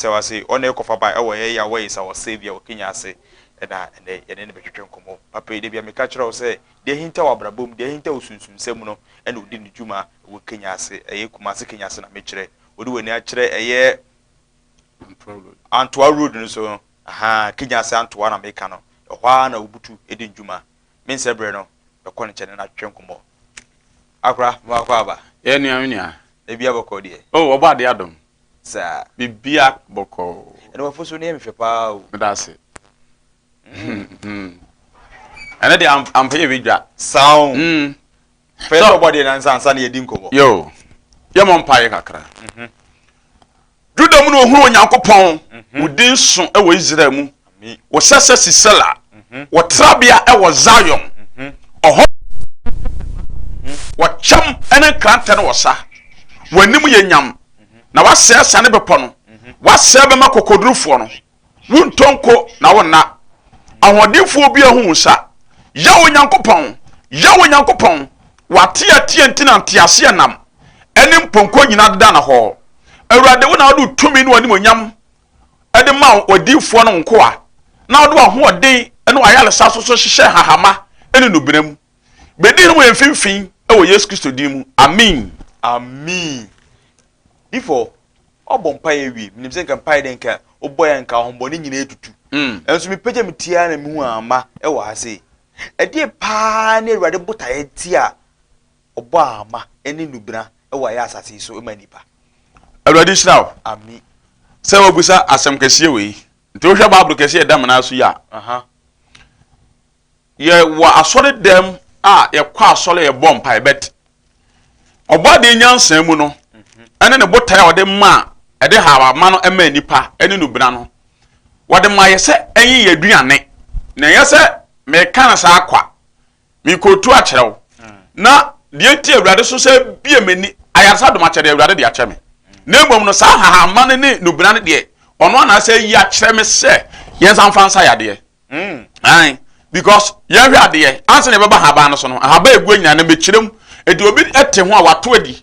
Sɛ wase ɔne yɛ kɔfa bae wɔ yɛ yaw ayisa wɔ Serbia wɔ Kenya ase na ɛnɛ yɛne no bɛtwetwe nkɔmmɔ. Papa yi, dabia meka kyerɛ wo sɛ deɛ ahinta wɔ abrabɔ mu, deɛ ahinta wɔ sunsumsɛm mu no ɛna ɔdi ne dwuma wɔ Kenya ase. Ɛyɛ Kumasi Kenya ase na mekyerɛ. Wode w'ani akyerɛ ɛyɛ Antoa Road no so no, ahaa, Kenya ase Antoa na meka no, ɛhɔ ara na ɔbutu di ne dwuma. Mensɛ berɛ no, bɛkɔ ne nkyɛn ne no atwetwe nkɔmmɔ. Akora, mewɔ akwaaba. Yɛ nea me nua. Dabia bɔkɔɔ deɛ. Oh, ɔbɔ adeɛ adom. Saa. Bibia bɔkɔɔ. Ɛna wafo so ne yɛ mehwɛ paa o. Meda ase. Ɛne de ampa yɛ bɛdwa. Saa o. Mm. Fɛ sɛ ɔbɔ deɛ nansa ansa ne yɛdi nkɔmmɔ. Yo. Yɛ mɔ mpa yɛ kakra. Juda mu na ohunu Onyankopɔn. Wo din so wɔ Israel mu. Wɔhyɛ sɛ Sisera wɔ trabea wɔ Zion, ɔhɔ na wɔ kyɛm ne nkrantɛ no wɔ sa, w'anim yɛ nyam, na w'asɛɛ asiane bepɔ no, w'asɛɛ bɛmɛ akokodurufoɔ no, wo ntɔ nko na wo nna, ahoɔdenfoɔ biara ho wo sa, Yaw Onyankopɔn, Yaw Onyankopɔn, w'ateatea nti na nteaseɛnam ne mpɔnkɔ nyinaa deda no hɔ, Awurade wo na wode wo tumi ne w'animuonyam de ma w'adiyifoɔ no nkoa, na wode w'ahoɔden ne w'ayaresa nso so hyehyɛ hahama ne nnubena mu. Bɛdi hene wɔ yɛn mfimfini wɔ Yesu Kristo din mu, ameen. Ameen before ɔbɔ mpaeɛ awie menim sɛ nka mpaeɛ dɛ nka wobɔ yɛ nka ahombɔne nyina atutu ɛnso me pagya me tiaa na mehu ama ɛwɔ ha sei ɛdeɛ paa ne awurade botaeɛ nti a Ɔbɔ ahama ne nubena wɔ yɛ asase yi so ma nnipa. Awurade nhyira wo. Ami. Sɛ wabisa asɛm kɛseɛ wei. Nti wohwɛ Bible kɛseɛ a ɛda menaa so yi a, Aha. yɛwɔ asɔre dɛm a yɛkɔ asɔre a yɛbɔ mpae bɛt ɔbɔ adeɛ nyansaa mu no ɛne ne botae a ɔde maa ɛde hawama no ɛmaa nipa ɛne nubena no wɔde ma yɛ sɛ ɛnyɛ yɛ aduane na ɛnyɛ sɛ meka no saa kwa mekɔɔtu akyerɛ wo na deɛ nti awurade so sɛ bie m'ani ayaresa adom akyɛ deɛ awurade de akyɛ me na mmom no saa hahama no ne nubena no deɛ ɔno anaasɛ yi akyerɛ me sɛ yɛnsa mfa nsa yadeɛ mm. because yɛnhwɛ adeɛ ansa na yɛbɛba haban no so no ahaba ɛgu nyinaa no mɛkyerɛ mu ɛde obi te ho a wato adi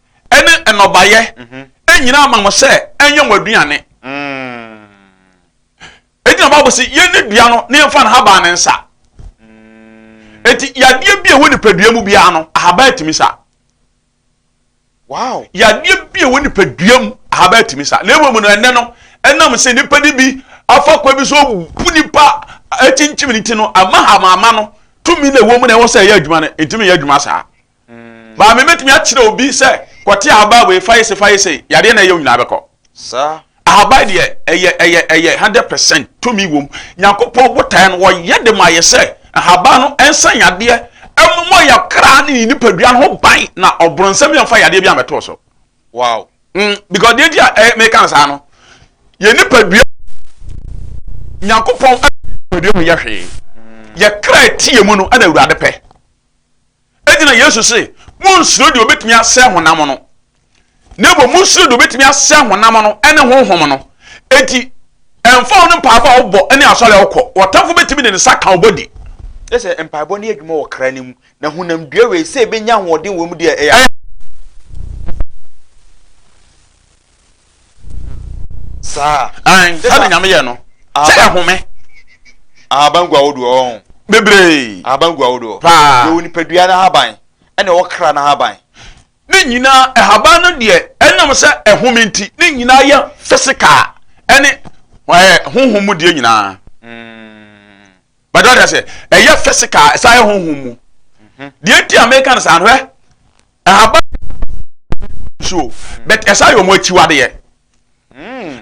ɛne nnɔbaeɛ nyinaa ma mo sɛ ɛnyɛ mo aduane. Enti na Bible sɛ yɛn ne dua no na yɛmfa nhaban ne nsa. Enti yadeɛ bi a ɛwɔ nipadua mu biara no ahaban atumi sa. Wow. Yadeɛ bi a ɛwɔ nipadua mu ahaban atumi sa. Na mmom no ɛnɛ no ɛnam sɛ nipa no bi afa kwan bi so bu nipa akyinkyim ne ti no ama hamama no tumi na ɛwɔ mu na ɛwɔ sɛ ɛyɛ adwuma no ntumi yɛ adwuma saa. Maame bɛtumi akyerɛ obi sɛ kɔte ahaban wei fa yese fa yese yadeɛ na ɛyɛ wo nyinaa bɛkɔ. Saa. Ahaban deɛ ɛyɛ ɛyɛ ɛyɛ hundred percent tumi wɔm. Nyankopɔn botaeɛ no wɔyɛ de ma yɛ sɛ ahaban no ɛnsa yadeɛ ɛmomɔ yɛ kra ne yɛ nipadua no ho ban na ɔbronsɛm yɛ nfa yadeɛ bi amɛto so. Wow. Mm, because deɛ nti a ɛyɛ eh, meka no saa no yɛ nipadua Nyankopɔn nipadua mu yɛ hwee yɛ kra ɛteɛ mu no ɛna awurade pɛ. Enti na Yesu se, Munnsuro deɛ obetumi asɛe honam no, na mmom monsuro deɛ obetumi asɛe honam no ne honhom no. Enti, ɛmfa ho ne mpaebɔ a wobɔ ne asɔre a wokɔ, w'ɔtamfo betumi de ne nsa aka wo bɔdi. Kyerɛ sɛ, mpaebɔ no yɛ adwuma wɔ kra no mu, na honam dua wei, sɛ ebenya ahoɔden wom deɛ, ɛyɛ. saa. ayi sɛ na nyame yɛ no sɛ ɛhome. ahaban gu ahodoɔ ɔho. bebree. ahaban gu ahodoɔ. paa. yɛwɔ nipadua no ahaban ɛna ɛwɔ kra no ahaban. ne nyinaa ɛhaban no deɛ ɛnam sɛ ɛhome nti ne nyinaa yɛ physical ɛne ɛɛ honhom mu deɛ nyinaa. Mm. bàtà wàtà sɛ ɛyɛ physical ɛsan yɛ honhom mu. Mhm. deɛ nti a mɛka no saa no hɛ. Ahaban no nna ma wɔn ani gu no so o, but ɛsan yɛ wɔn akyiwadeɛ.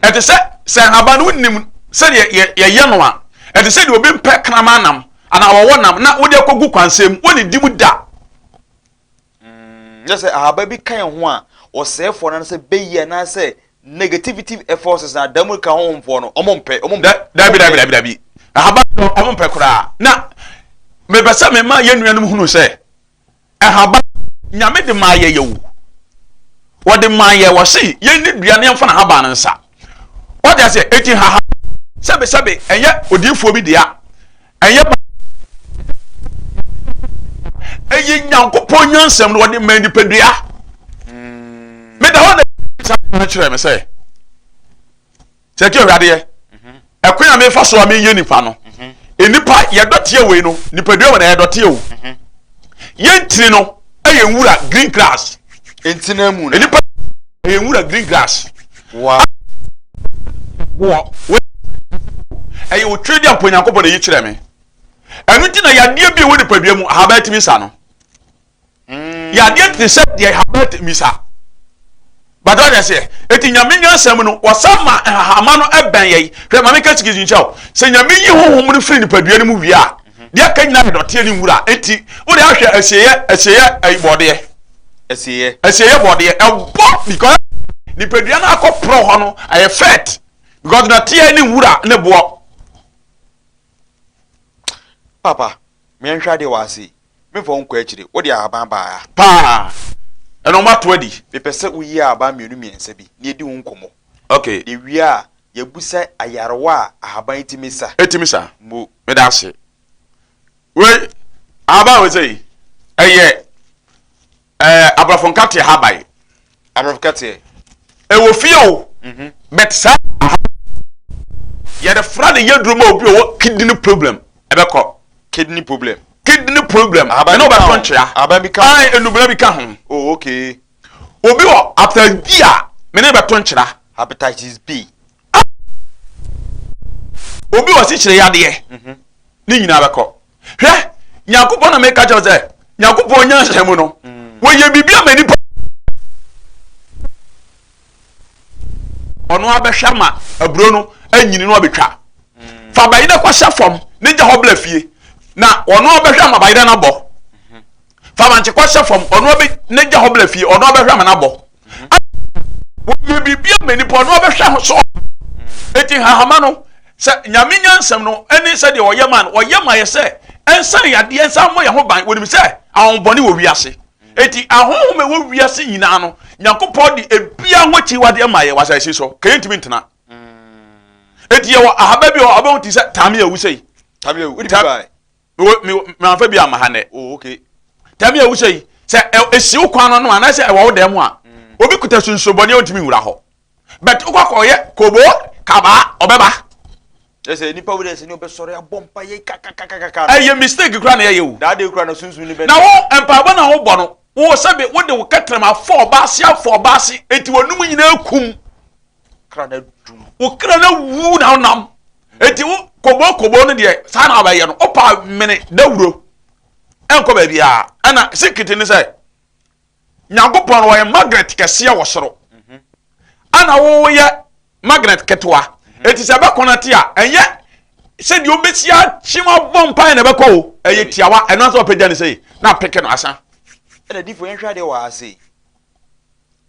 Ɛte sɛ sɛ ahaban no wonim sɛdeɛ yɛyɛ no a, ɛte sɛ deɛ obi mpɛ kraman nam anaa wɔwɔ nam na wode akɔgu kwansɛn mu, wɔnnidi mu da. Nyɛ sɛ ahaba bi ka yɛn ho a, ɔsɛefoɔ no anaasɛ bɛyi anaasɛ negativity forces na da mu ka honhomfoɔ no, wɔn mpɛ, wɔn mpɛ. Dabi, dabi, dabi, dabi. Ahaban no wɔn mpɛ koraa. Na mepɛ sɛ mema yɛn nuanom hunu sɛ, Nhaban Nyame de maa yɛɛ o, wɔde maa yɛɛ, wɔse yɛnni dua no yɛmfa nhaban no nsa. Wate aseɛ? Eti nhaha sɛbe sɛbe ɛnyɛ odiifoɔ bi dea, ɛnyɛ ba ɛyɛ Nyankopɔn nyansam no wɔde maa nipadua. Meda hɔ na kyerɛ me sɛ Sɛ ɛte Awurade yɛ, ɛkwan a mefa so a menyɛ nipa no, nnipa yɛdɔteɛ wei no, nipadua wɔ na yɛdɔteɛ o. Yɛn ntini no yɛ nwura green grass. Ntina mu na. Nipa yɛ nwura green grass. Wa. Wɔ wɔ ɛyɛ otwe di ampo Nyankopɔn na yi kyerɛ me. Ɛno nti na yadeɛ bi wɔ nipadua mu ahaban tumi sa no. yadeɛ te sɛ deɛ haba tumi sa bàtà ɔyɛ seɛ eti nyame nyansa mu no wɔsan ma nhahama no ɛbɛn yɛ yi hwɛ maame kɛse kɛse nkyɛn o sɛ nyame yi huhum no firi nipadua no mu wie a deɛ aka nyinaa yɛ dɔteɛ ne nwura eti wode ahwɛ ɛsieɛ ɛsieɛ ɛyi bɔdeɛ ɛsieɛ ɛsieɛ bɔdeɛ ɛbɔ because nipadua no akɔ porɔ hɔ no ɛyɛ fɛt because dɔteɛ ne nwura ne boɔ papa mìɛnhwɛ adeɛ wɔ ase Memfa wo nkɔ akyire. Wode ahaban baeɛ ha. Paa! Ɛnna wɔato adi. Mepɛ sɛ woyi ahaban mmienu mmiɛnsa bi na yɛdi ho nkɔmmɔ. Okay. Na yɛwie a, yɛabisa ayarewa a ahaban yi tumi sa. Ɛtumi sa? Mmu. Meda ase. Wei, ahaban a wei sɛ yi, ɛyɛ. Ɛɛ aborɔfo nkateɛ ha bae. Aborɔfo nkateɛ. Ɛwɔ fie o. Mhm. But saa aha yɛde fra de yɛ duro ma obi ɔwɔ kidney problem ɛbɛkɔ. Kidney problem. Kidney problem. Ɛna ɔbɛtɔ nkyea. Ahaban bi ka ho. Ɛn enubena bi ka ho. Oh okay. Obi wɔ hepatitis B a mene bɛtɔ nkyera. Hepatitis B. Obi wɔ sikyire yadeɛ. Mhm. Ne nyinaa bɛkɔ. hwɛ nyankopɔn na meka kyɛw sɛ nyankopɔn nyansa mu no mm. wɔyɛ biribi ama nipa ɔno abɛhwɛ ama aburo no anyini no abɛtwa mm. fa bayerɛ kɔhyɛ fam ne gya hɔ bla fie na ɔno abɛhwɛ ama bayerɛ no abɔ fa bankye kɔ hyɛ fam ɔno abɛ ne gya hɔ bla fie ɔno abɛhwɛ ama n'abɔ wɔyɛ biribi ama nipa ɔno abɛhwɛ ho so eti hahama no sɛ nyame nyansɛm no ɛne sɛ deɛ ɔyɛ ma no ɔyɛ ma yɛ sɛ ɛnsan yadeɛ nsan mmɔ yɛn ho ban wɔnim sɛ ahobɔne wɔ wiase eti ahohom ɛwɔ wiase nyinaa no nyankopɔn de ebia ho akyi wadeɛ ma yɛ wasa esi so kɛyɛ ntumi ntena eti yɛ wɔ ahaba bi wɔ abɛn ti sɛ tame awu sɛ yi tame awu Me wɔ me me anfa bi ama ha nɛ. Oh okay. Tami a wohyɛ yi sɛ esi wo kwan no no anaasɛ ɛwɔ wo dan mu a mm. obi kuta sunsunbɔne a ontumi nwura hɔ. But wokɔ akɔyɛ kobo kabaa ɔbɛba. Ɛsɛ nipa wo dɛ sɛ ne ɔbɛsɔre abɔ mpa yɛ kakakakaka. Ɛyɛ mistake kura na ɛyɛ o. Daa de kura na sunsun ne bɛ. Na wo mpaebɔ na wo bɔ no wo sɛbi wo de wo kɛtɛrɛm afɔ ɔbaase afɔ ɔbaase eti wɔn num nyinaa kum. kra na dum wo kra na wu na wonam eti wo kobo kobo no deɛ saa na abɛyɛ no wopa mene dawuro ɛnkɔ baabi a ɛna sikiti ne sɛ nyankopɔn no wɔyɛ magnet kɛseɛ wɔ soro ɛna mhm. woyɛ magnet ketewa mhm. eti sɛ ɛbɛkɔ no te a ɛnyɛ sɛdeɛ wobɛsi akyem abɔ mpae na ɛbɛkɔ o ɛyɛ mhm. tiawa ɛno nso ɔpɛgya ne sɛ na apeke no asa ɛna difo yɛnhwɛ adeɛ wɔ ase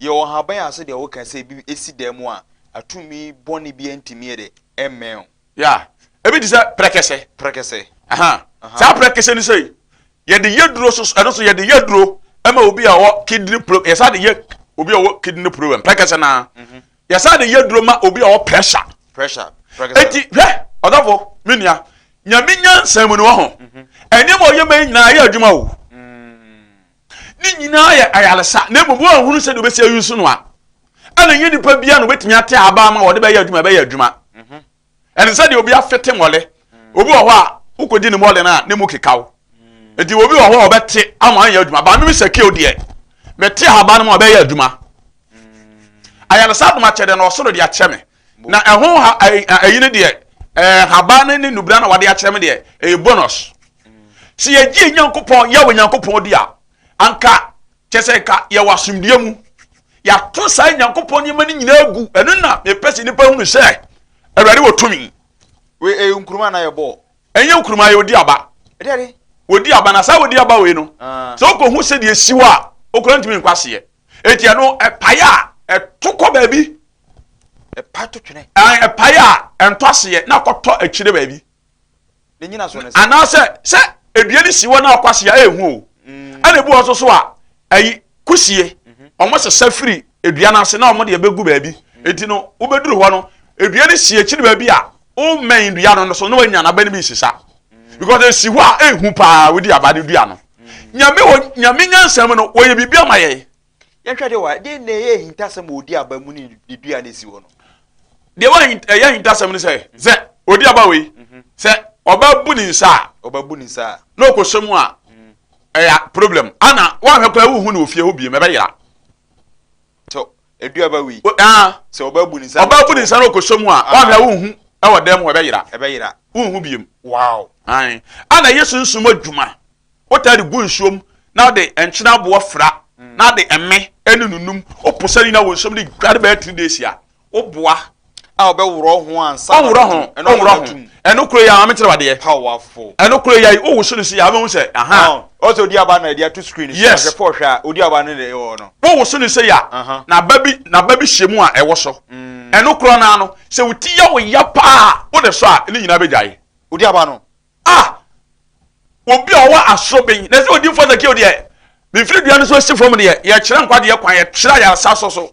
Yɛ wɔ nhaban ase dɛ wo kã sɛ bi esi dɛn mu a atumi bɔne bia nntumi yɛ dɛ mmɛn wo. Yeah. Ebi te sɛ prɛkɛsɛ. Prɛkɛsɛ. Aha. Saa prɛkɛsɛ no sei, yɛde yɛ duro so, ɛno so yɛde yɛ duro ma obi a ɔwɔ kidney problem, yɛsan de yɛ obi a ɔwɔ kidney problem, prɛkɛsɛ naa. Mhm. Yɛsan de yɛ duro ma obi a ɔwɔ pressure. Pressure. Prɛkɛsɛ. Eti hwɛ, ɔdɔfo, me nua, Nyame nyansa mu no wɔ ho. Mhm. Ɛnneɛma a ɔyɛ ma yi nyinaa ɛyɛ adwuma o. Ne nyinaa yɛ ayaresa, na mmom wɔanhunu sɛdeɛ wɔbɛsi ayi so noa. Ɛna ɛnyɛ nipa biara na ɔbɛtumi ate aban ma wɔde bɛyɛ adwuma ɛbɛyɛ adwuma. Mhm. Ɛne sɛdeɛ obi afete mmɔle. Mhm. Obi wɔ hɔ a wokɔdi ne mmɔle no a ne mu keka wo. Mhm. Nti obi wɔ hɔ a ɔbɛte ama anyɛ adwuma. Ba meme sɛ keo deɛ mete aban ma ɔbɛyɛ adwuma. Ayaresa adomakyɛdɛ na ɔsoro de akyɛ me. Na ɛho ha ɛyi no deɛ ɛɛ haba no ne nubira na wɔde akyerɛ me deɛ ɛyɛ bonus sɛ yɛgye nyankopɔn yɛ wɔ nyankopɔn di a anka kyɛ sɛ nka yɛwɔ asomdua mu yɛato saa nyankopɔn nneɛma no nyinaa gu ɛno na mepɛ sɛ nnipa hunu sɛ awurade wɔ tumi wei ɛyɛ nkuruma na yɛ bɔɔ ɛnyɛ nkuruma yɛ odi aba wɔdi aba na saa wɔdi aba wei no ah. sɛ wokɔhu sɛdeɛ si hɔ a wokora ntumi nkwaseɛ Eti ɛno ɛpae a ɛto kɔ baabi. Ɛpae to twene. Ɛpae a ɛntɔ aseɛ na akɔtɔ akyire baabi. Ne nyina so ne sɛ. Anaasɛ sɛ edua no si hɔ na akɔ ase a ɛyɛ hu o. Mm. Ɛna ebi wɔ nso so a ɛyi kusie. Wɔn mhm. sesa firi edua no ase na wɔn de ɛbɛgu baabi. Mm. Eti no wobɛduru hɔ no edua no si akyire baabi a Wommɛn dua no nso na wanya n'aba no bi nsesa because esi hɔ a ehu paa wodi aba no dua no. Nyame wɔ nyame nyansam no wɔyɛ biribi ama yɛn. Yɛnhwɛ de wa de na ɛyɛ ahintasɛm a odi aba mu ne ne dua no esi hɔ no. Deɛ wa ɛyɛ ahintasɛm no sɛ sɛ odi aba wei sɛ ɔba bu ne nsa a ɔba bu ne nsa a na ɔkɔhyɛ mu a ɛyɛ problem ana wanhwɛ koraa wohu no wɔ fie hɔ biem ɛbɛyera. So ɛdu aba wei. Aa. Sɛ ɔbaa bu ne nsa. Ɔbaa bu ne nsa na ɔkɔsɔ mu a, woahwɛ a wonhu wɔ dan mu hɔ, ɛbɛyera. Ɛbɛyera. Wonhu biom. Wow. Aane. Ana Yesu nso mu adwuma, wotaa de gu nsuo mu na wode nkyene aboɔ fra na ade ɛme ɛne nunum, woposa ne nyinaa wɔ nsuo mu de dware bɛyɛ three days a, Wo boa a wobɛworɔ ho ansa na ɔbɛto mu. Ɛno koro yɛ a Ɛno koro yɛ a Maame kyerɛ wadeɛ. Powerful. Ɛno koro yɛ a Wowo so no si a wobɛhu sɛ aha. Ɔsɛ odi aba na ɛde ato screen so. Yes. Ahwɛfo ɔhwɛ a odi aba no na ɛwɔ hɔ no. Wowo so no sei a na ba bi na ba bi hyɛ mu a ɛwɔ so. Ɛno koro no ara no sɛ wo ti yɛ wo ya paa a wode sɔ a ne nyinaa bɛgyae. Odi aba no. Ah! Obi a ɔwɔ asoben na sɛ odi mfɔ sɛ kio deɛ mfiri dua no so si fam deɛ yɛkyerɛ nkwadeɛ kwan yɛkyerɛ ayaresa so so.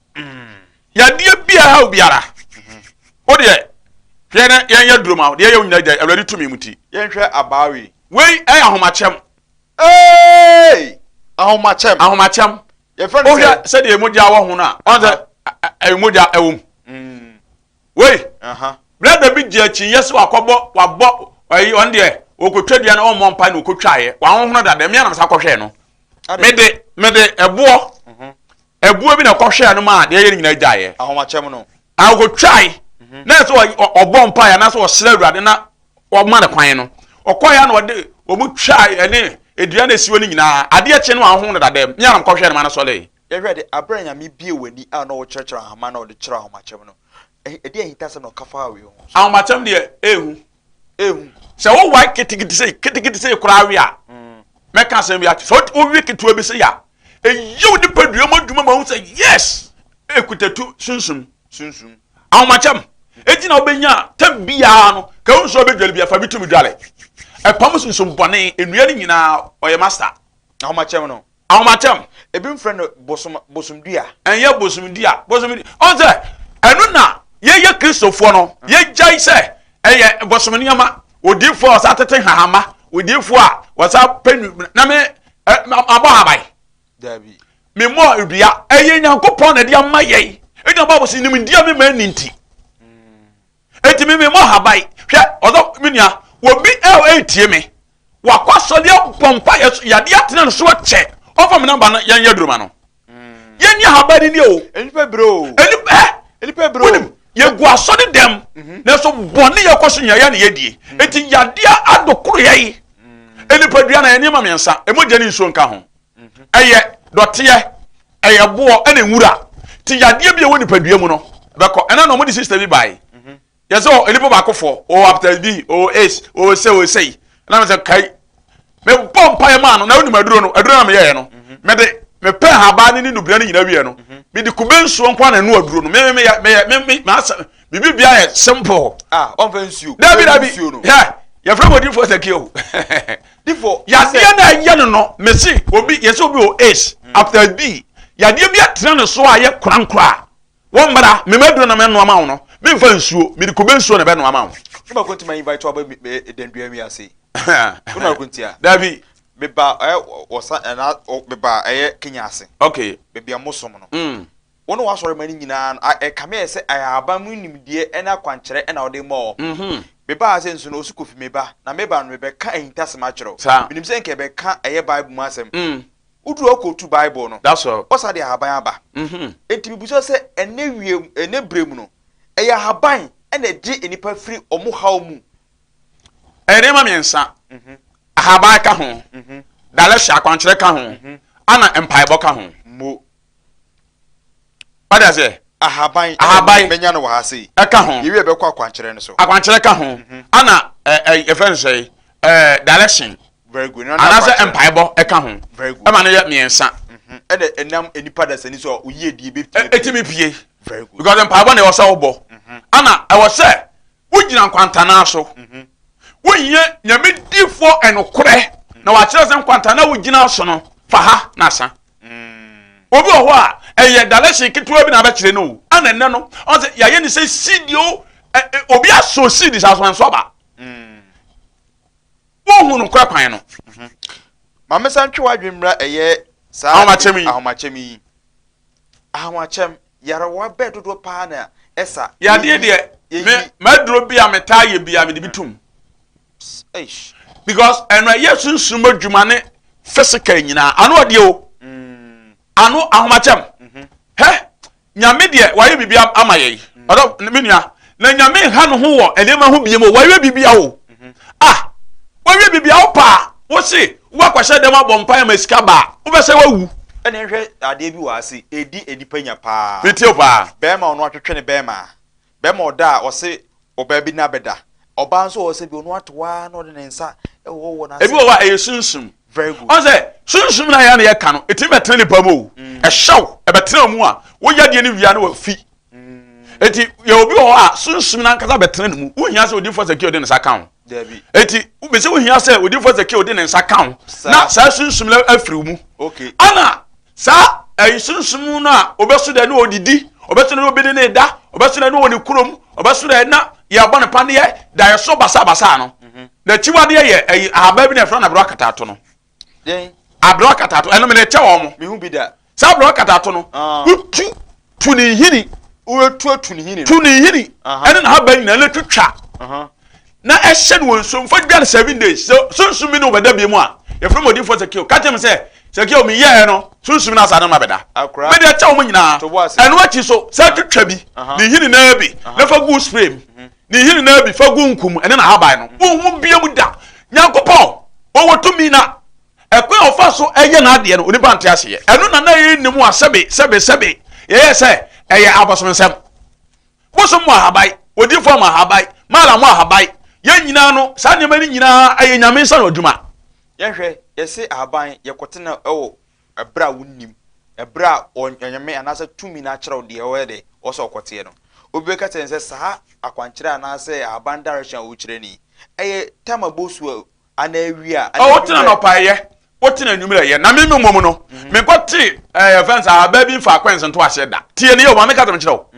yadeɛ biara ha obiara wo deɛ hwɛ na yɛnyɛ duro ma deɛ yɛ wo nyina gya awurade tumi mu ti yɛnhwɛ abaa wei wei ɛyɛ ahomakyɛm ee ahomakyɛm ahomakyɛm yɛfrɛ no sɛ sɛdeɛ mogya wɔ ho no a ɔn sɛ ɛyɛ mogya ɛwɔ mu mm. wei brɛda bi gye akyinyɛ sɛ wakɔbɔ wabɔ ayi ɔn deɛ ɔkɔtwa dua no ɔmmɔ mpa na ɔkɔtwaeɛ wahohono dada mmea nam sa kɔhwɛɛ no mede mede ɛboɔ Ɛboɔ bi na ɔkɔhwɛɛ no maa deɛ ɛyɛ no nyinaa gyaeɛ. Ahomakyɛm no. A ɔkɔtwae. Mhm. Na ɛsɛ ɔ- ɔ- ɔbɔ mpaeɛ anaasɛ ɔsrɛ Awurade na ɔma no kwan no. Ɔkɔeɛ a na ɔde wɔn twae ɛne dua no asiwɔ no nyinaa. Adeɛ kye no a ɔho no dadam. Me ara mekɔhwɛɛ no ma no sɔree. Yɛhwɛ de, abere a Nyame bie w'ani a na wokyerɛkyerɛ ahoma na ɔde kyerɛ ahomakyɛm no, ɛhe- ɛdeɛ ahintasɛm na ɔka faa wei ho? Ahomakyɛm deɛ ɛnhu. ehu. sɛ wowae ketekete sei ketekete sei koraa we a mm. mɛka asɛm bi akyɛ sɛ wowe ketewa bi sei a ɛyɛ wo nipadua mu adwuma ma wo sɛ yes ɛkutatu sunsum sunsum ahomakyɛm ɛti na wobɛnya tam biara no ka wo nsuo bɛdwale bi afa bi tumi dwale ɛpam sunsum bɔne nnua no nyinaa ɔyɛ masta ahomakyɛm no Ahomakyɛm, ebi mfrɛ no bosom bosom dua. Ɛnyɛ bosom dua, bosom dua. Ɔn sɛ ɛno na yɛyɛ Kristofoɔ no, yɛgyae sɛ ɛyɛ bosom nneɛma. Odiifoɔ a ɔsa tete hahama, odiifoɔ a ɔsa pɛ nu na me abɔ haban. Dabi. Memmɔ dua. Ɛyɛ Nyankopɔn na ɛde ama yɛn. Ɛna Bible sɛ nimdeɛ me ma ɛni nti. eti mi mi mɔ haban hwɛ ɔdɔ mi nua obi ɛ ɔ etie mi wakɔ asɔre abɔ mpa yɛ so yadeɛ atena ne so akyɛ ɔfa mi namba no yɛn yɛ duruma no yɛn nyɛ haban ni o nipa bere o nipa ɛ nipa bere o yɛ gu asɔre dɛm na so bɔnne yɛ kɔ so nyɛ yɛ na yɛ die eti yadeɛ adokoro yɛ yi nipadua na yɛ nneɛma mmiɛnsa emogya ne nsuo nka ho ɛyɛ dɔteɛ ɛyɛ boɔ ɛna nwura ti yadeɛ bi a ɛwɔ nipadua mu no bɛkɔ ɛna na wɔn de sista bi baayi yɛ sɛ nipa baako fɔ ɔwɔ hepatitis b ɔwɔ aids ɔwɔ sɛ ɔwɔ sɛ yi ɛna mi sɛ kai mɛ bɔ mpa yɛ maa no na onim aduro no aduro na mi yɛ yɛ no mɛ de mɛ pɛ haba ne ne nubira ne nyinaa wiɛ no mɛ de kube nsuo nkwa na ɛnu aduro no mɛ mɛ mɛ yɛ mɛ yɛ mɛ mɛ mɛ asɛ bibi bia yɛ simple. ah ɔn fɛ nsuo. dabi dabi yɛ yɛ fɛ mo di fɔ sɛ kii o. difo. Yadeɛ na ɛyɛ no no mesi obi yɛsi obi wɔ ace after bi yadeɛ bi atena ne so a yɛ korankora a wɔn mmara mɛmɛ duro na mɛ noa ma wɔn no mi nfa nsuo mi de kube nsuo na bɛ noa ma wɔn. Ɛma ko ntoma invite wa bɛ dɛndua mi ase. Ko na ko ntia. Dabi. Meba ɛ wɔsa ɛna meba ɛyɛ Kenya ase. Okay. Baabi a mo som no. Mm. Wo ne w'asɔremma no nyinaa no, ɛkame ayɛ sɛ ahaban mu nimdeɛ ne akwankyerɛ na wode ma wɔn. Me ba ase nso no, ɔse Kofi, me ba, na me ba no, mebɛka ahintasɛm akyerɛ wo. Menim sɛ nka ɛbɛka ɛyɛ Bible mu asɛm. Woduru hɔ kɔtu Bible no, ɔsa de ahaban aba. Enti mebisa sɛ, ɛnnɛ wiem, ɛnnɛ berɛ mu no, ɛyɛ ahaban na ɛgye nnipa firi wɔn haw mu? Ɛyɛ nneɛma mmiɛnsa. Ahaban ka ho, dalehye, akwankyerɛ ka ho, ɛna mpaebɔ ka ho. Wate aseɛ? Ahaban, ahaban, menya no wɔ ha sei. Ɛka ho. Yɛwie bɛkɔ akwankyerɛ no so. Akwankyerɛ ka ho. Mhm. Ana yɛfrɛ no sɛ direction. Very good. Anaasɛ mpaebɔ ɛka ho. Very good. Ɛma no yɛ mmiɛnsa. Mhm. Ɛna ɛnam nipa dasani so a oyie die bɛpie. Ɛtumi pie. Very good. Because mpaebɔ na ɛwɔ sɛ wobɔ. Mhm. Ana ɛwɔ sɛ wogyina nkwantanaa so. Wonyɛ nyame difoɔ ɛnokorɛ na wakyerɛ sɛ nkwantanaa wogyina so no fa ha na asa. Obi wɔ hɔ a, ɛyɛ dalɛhye ketewa bi na abɛkyerɛ no o, ɛna ɛnɛ no, ɔn sɛ yɛayɛ ne sɛ seed o, obi asɔ seed saa so ɛnso aba. Wohu no kora kwan no. Mhm. Maame san twe w'adwene mmra ɛyɛ saa ahomakyɛm yi. Ahomakyɛm yi. Ahomakyɛm. Yarewa bɛɛ dodoɔ pa ara na ɛsa. Yadeɛ deɛ, me, m'aduro bi a metaa yɛ bi a, mede bi tom. Eish. Because ɛno ɛyɛ sunsum adwuma ne physical nyinaa. Ano ɔdeɛ o. Mm. Ano ahomakyɛm. Mm-hmm. Hɛ, nyame deɛ wayɛ biribi ama yɛn. Mm. Ɔdɔ, me nua, na nyame nha no ho wɔ nneɛma ho biem o wawie bibia o ah wawie bibia o paa wose wobɛkɔhyɛ dɛm abɔ mpaeɛ ma sika baa wobɛsɛ wawu ɛne nhwɛ adeɛ bi wɔ ase ɛdi nnipa nya paa metie paa bɛrima ɔno atwetwe ne bɛrima bɛrima ɔda a ɔse ɔbaa bi na bɛda ɔbaa nso ɔwɔ sɛ bi ɔno ato waa na ɔde ne nsa ɛwɔ wɔ n'ase ebi wɔ hɔ a ɛyɛ sunsum very good ɔn sɛ sunsum na yɛ na yɛka no ɛtumi bɛtena nipa mu o mm. ɛhyɛw ɛbɛtena mu a woyɛ deɛ no wia na wafi eti yɛ obi wɔ hɔ a sunsum n'ankasa bɛtena ne mu wohia sɛ odinfo sɛ kii ɔde ne nsa ka ho eti bɛsɛ wohia sɛ odinfo sɛ kii ɔde ne nsa ka ho na saa sunsum no afiri mu ana saa ɛyi sunsum no a ɔbɛso dɛ ne ɔdidi ɔbɛso dɛ ne ɔbɛdi ne da ɔbɛso dɛ ne ɔwɔ ne kurom ɔbɛso dɛ na yɛbɔ ne paneɛ da yɛso basabasa no n'akyiwadeɛ yɛ ɛyi ahaban bi na ɛfrɛ no abere akatato no Dɛn? Abrɛ ɔkatato. Ɛno mede kyɛ wɔn. Mehu bi da. Saa abrɛ ɔkatato no, ah. wotu tu ne nhini. Wotu atu ne nhini. Tu ne nhini. Ɛne n'ahaban nyinaa na twitwa. Na ɛhyɛ no wɔ nsuo mfa dwa no seven days. So sunsum bi ne wɔbɛda bi mu a, yɛfrɛ mu odiifoɔ Sakeo. Ka kyerɛ me sɛ, Sakeo, meyɛɛ no, sunsum no asaa no ma bɛda. Mede ɛkyɛ wɔn nyinaa. Ɛno akyi so, sɛ twitwa bi, ne nhini naa bi, na fa gu spray mu. Mhm. Ne nhini naa bi fa gu nku mu, ɛne n'ahaban no, wonhu bio mu da. Nyankopɔn, Ɔwɔ tumi na ɛkwan a Ɔfa so yɛ N'adeɛ no, onipa nte ase yɛ. Ɛno na na yɛnni mu a sɛbe, sɛbe, sɛbe, yɛyɛ sɛ ɛyɛ abosomsɛm. Bosom mu ahaban, odiyifoɔ mu ahaban, mala mu ahaban, yɛn nyinaa no, saa nneɛma no nyinaa yɛ Nyame nsa ano adwuma. Yɛnhwɛ, yɛse ahaban, yɛkɔtena wɔ Ɛberɛ a wonnim, ɛberɛ a Onyame anaasɛ tumi no akyerɛw deɛ ɔyɛ dɛ, ɔwɔ sɛ ɔkɔteɛ no. Obi bɛka kyerɛ no sɛ, saa akwankyerɛ anaasɛ ahaban direction a wokyerɛ no yi, ɛyɛ tam a ɛbɔ su anaa awia anaa anwummerɛ. Wotena anɔpa ɛyɛ, wotena anwummerɛ ɛyɛ, na me me mmom no, menkɔte ɛɛ yɛfrɛ no sɛ ahaban bi mfaako a nsentoaseɛ da. Tie no yie o, ma menka deɛ mekyerɛ wo.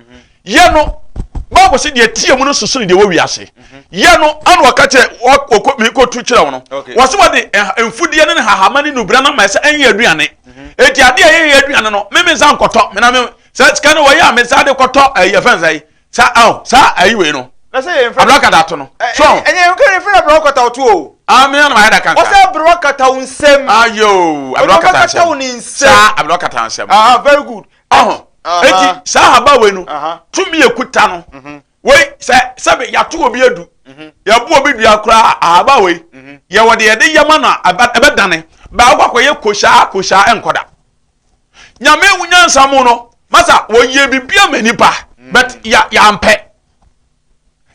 Yɛ no, Bible sɛ deɛ ɛteɛ mu no soso ne deɛ ɛwɔ wiase. Mhm. Yɛ no, ana wɔka kyerɛ mekɔtu kyerɛ wo no. Wɔ sɛ wɔde eh, mfudeɛ ne ne hahama ne nubra no amaɛ sɛ ɛnyɛ aduane. Ɛti mhm. adeɛ a yɛyɛ aduane no, me mensa nkɔtɔ. Mena me sɛ sika no wɔyɛ a mensa de kɔtɔ ɛyɛ eh, fɛn sɛ saa aw saa ayi wei no. Abura kata to no. Eh, so. Ɛnyɛ nkiri ne fɛn abura kata to o. Ami na mayɛ da kankan. Wɔsɛ abura kata nsɛm. Ayo abura kata nsɛm. Saa abura kata nsɛm. Ah very good. eti saa haba wei no tumi ekuta no mhm. wei sɛ sɛbi yɛato obi adu mhm. yɛbu obi dua koraa ahaba wei mhm. yɛwɔ de yɛde yɛma no a ɛbɛdane baako akɔyɛ kohyia kohyia ɛnkɔda nyame ewu nyansa mu no masa wɔyɛ bibi ama nipa but ya yampɛ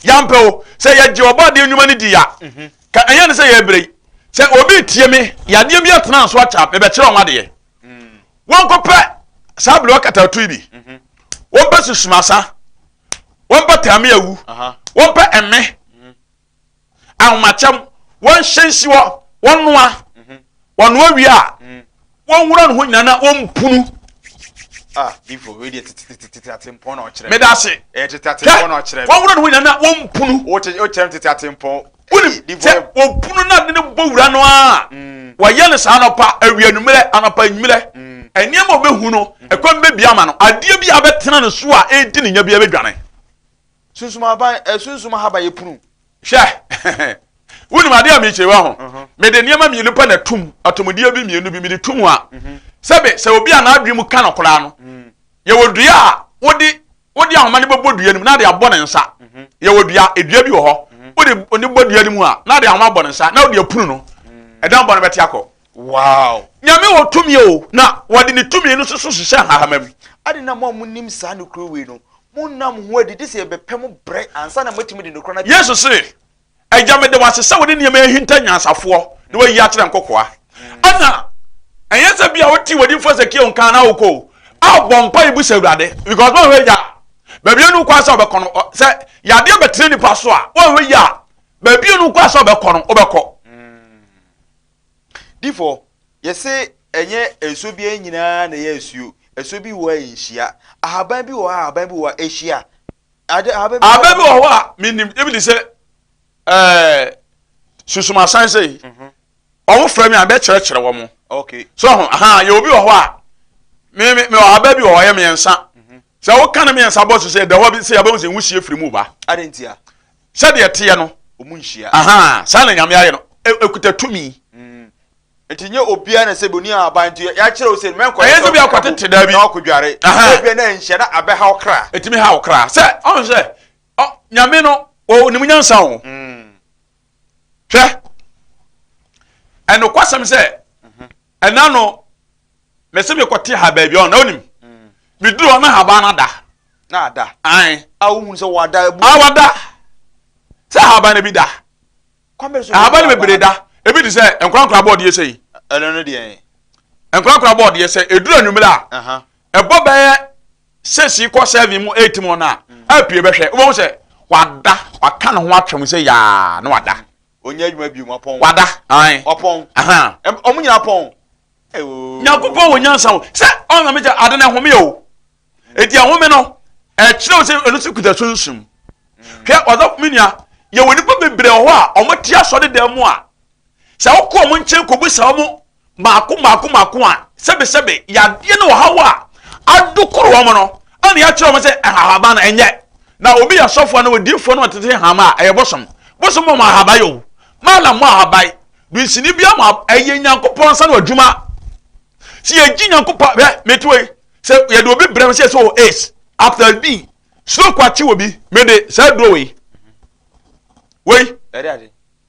yampɛ o sɛ yɛgye ɔbɔ adeɛ nnwuma no di ya ka ɛyɛ ne sɛ yɛbere sɛ obi tie me yadeɛ bi atena nso akyɛ a ɛbɛkyerɛ wɔn adeɛ. wɔnkɔpɛ saa bere wɔkatawto yi bi mhm. wɔmpɛ susumasa wɔmpɛ tame awu wɔmpɛ ɛme mhm. ahomakyɛm wɔnhyɛ nsi hɔ wɔnoa mhm. wɔnoa wie a wɔnwura ne ho nyinaa na wɔmpunu ah, meda ase wɔnwura ne ho nyinaa na wɔmpunu wonim sɛ obunu no ade no bɔ wura no a mm. wɔyɛ no saa anɔpa awia anwummerɛ anɔpa anwummerɛ mm. nneɛma ɔbɛhu no mm. ɛkwan bɛbi ama no adeɛ bi a bɛtena no so a ɛdi ne nya bi bɛdwane sunsum aban eh, sunsum ahaba yɛ punu hwɛ wonim adeɛ a mekyerɛ wa ho uh-huh. mede nneɛma mmienu pɛ na tum atomudeɛ bi mmienu bi mede tum a mm-hmm. sɛbe sɛ obi a n'adwene mu ka no koraa no yɛwɔ dua a wode wode ahoma no bɛbɔ dua no mu na de abɔ ne nsa yɛwɔ dua dua bi wɔ hɔ wode ne bɔ dua no mu a na de ahoma abɔ ne nsa na wode apunu no ɛdan bɔ no bɛte akɔ wow nyame wɔ tumi o na wɔde ne tumi no so so hyehyɛ nhahama mu ade na mo a monim saa nokoro wei no monnam ho adidi sɛ yɛbɛpɛ mo brɛ ansa na moatumi de nokora no yesu se Agya, meda wo ase sɛ wode nneɛma ahinta nyansafoɔ na wayi akyerɛ nkokoa. Ɛna ɛnyɛ sɛ bia wote wadi mfo sɛ kio nka na wokɔ a bɔ mpa ibu sɛ awurade because ma hwɛ agya baabi anu kwan sɛ ɔbɛkɔ no sɛ yadeɛ bɛtene nipa so a wɔhwɛ yi a baabi anu kwan sɛ ɔbɛkɔ no wobɛkɔ difo yɛse ɛnyɛ nsuo bi nyinaa na ɛyɛ nsuo nsuo bi wɔ a nhyia ahaban bi wɔ a ahaban bi wɔ a ɛhyia abɛ bi wɔ hɔ a menim ebi de sɛ ɛɛ susumasan sɛ yi mhm. wɔn fira mi a bɛ kyerɛkyerɛ wɔn so ho ahan yɛ obi wɔ hɔ a me me wɔ abɛ bi wɔ hɔ yɛ mmiɛnsa mhm. sɛ woka ne mmiɛnsa bɔ so sɛ dɛwɔ bi sɛ yɛbɛn sɛ nwu sie firi mu ba sɛdeɛ teɛ no saa na nyame ayɛ no e, ekuta tumi. Nti nyɛ obiara na sɛ boni ahaban nti yɛakyerɛ wo sɛ mɛnkɔ ɛyɛ sɛ obi akɔtete daa bi na wakɔdware ebia na nhyɛ na abɛha wo kra ɛtumi ha wo kra sɛ ɔn sɛ nyame no ɔnim nyansa o hwɛ ɛnokwasɛm sɛ ɛna no mɛsɛ mekɔte ha baabi ɔn na ɔnim meduru ɔna haban no ada na ada ae a wohunu sɛ wada abu awada sɛ haban no bi da ahaban no bebree da ebi te sɛ nkorankora bɔɔdeɛ sɛ yi ɛno no deɛ nkorankora bɔɔdeɛ sɛ ɛduru anwummerɛ a ɛbɔ bɛyɛ sɛsi kɔ sɛvi mu ɛti mu no a mm. apue bɛhwɛ wobɛhu sɛ wada waka ne ho atwam sɛ yaa na wada ɔnyɛ adwuma bio wapɔn wada wapɔn ɔmo nyina pɔn nyankopɔn wɔ nyansa o sɛ ɔnamegya ade no ɛhome o Eti ahome no, ɛkyerɛw sɛ ɛno nso kuta sunsum. Hwɛ ɔdɔfo me nua, yɛwɔ nnipa bebree wɔ hɔ a wɔn te asɔre dan mu a, sɛ wokɔ wɔn nkyɛn kɔbisa wɔn mmaako mmaako mmaako a, sɛbesɛbe yadeɛ ne ɔhaw a adokoro wɔn no, ɛna yɛakyerɛ wɔn sɛ nhahaban no ɛnyɛ. Na obi yɛ sɔfoɔ na odiifoɔ na ɔtete nhama a, ɛyɛ bosom. Bosom mɔ ahaban yɛ o, malam mɔ ahaban, dunsini bia mɔ ɛyɛ Nyankopɔn nsa no adwuma. Sɛ yɛgye Nyankopɔn, hwɛ, mete wei, sɛ yɛde obi brɛ no sɛ sɛ ɔwɔ aids after bi stroke akye wɔ bi mede saa duro wei wei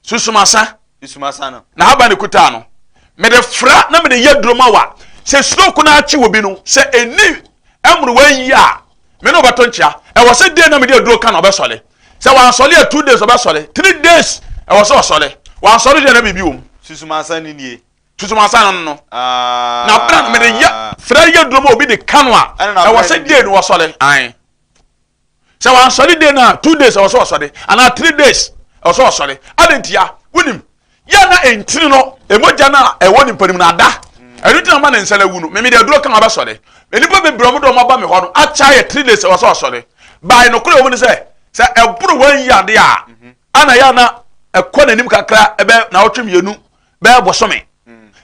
susumasa na haba ne kutaa no mede fra na mede yɛ duro ma wa sɛ stroke no akye wɔ bi no sɛ ɛni mmerewa yi a me ne ɔbɛto nkyea ɛwɔ sɛ dee na mede aduro ka na ɔbɛsɔre sɛ wansɔre yɛ two days ɔbɛsɔre three days ɛwɔ sɛ ɔsɔre wansɔre deɛ na biribi wɔ mu susumasa ne nie Susuw ansa na no no. Na bere a mede yɛ frɛ yɛ duro ma obi de ka no a, ɛwɔ sɛ day no wɔsɔre. Ae. Sɛ wɔansɔre day no a, two days ɛwɔ sɛ wɔsɔre, anaa three days ɛwɔ sɛ wɔsɔre. Adɛn ntia? Wonim, yɛ na ɛntini no, ɛmogya no a ɛwɔ nipa no mu no ada. Ɛno nti na ma ne nsa no awu no. Meme de aduro ka ma bɛsɔre. Nnipa bebree ɔmo de ɔmo aba me hɔ no, akyɛ yɛ three days ɛwɔ sɛ wɔsɔre. Bae no korɛ ɔmo ne sɛ, sɛ ɛboro wɔn yi adeɛ a, ana yɛ na ɛkɔ n'anim kakra ɛbɛ na ɔtwe mmienu bɛyɛ bosome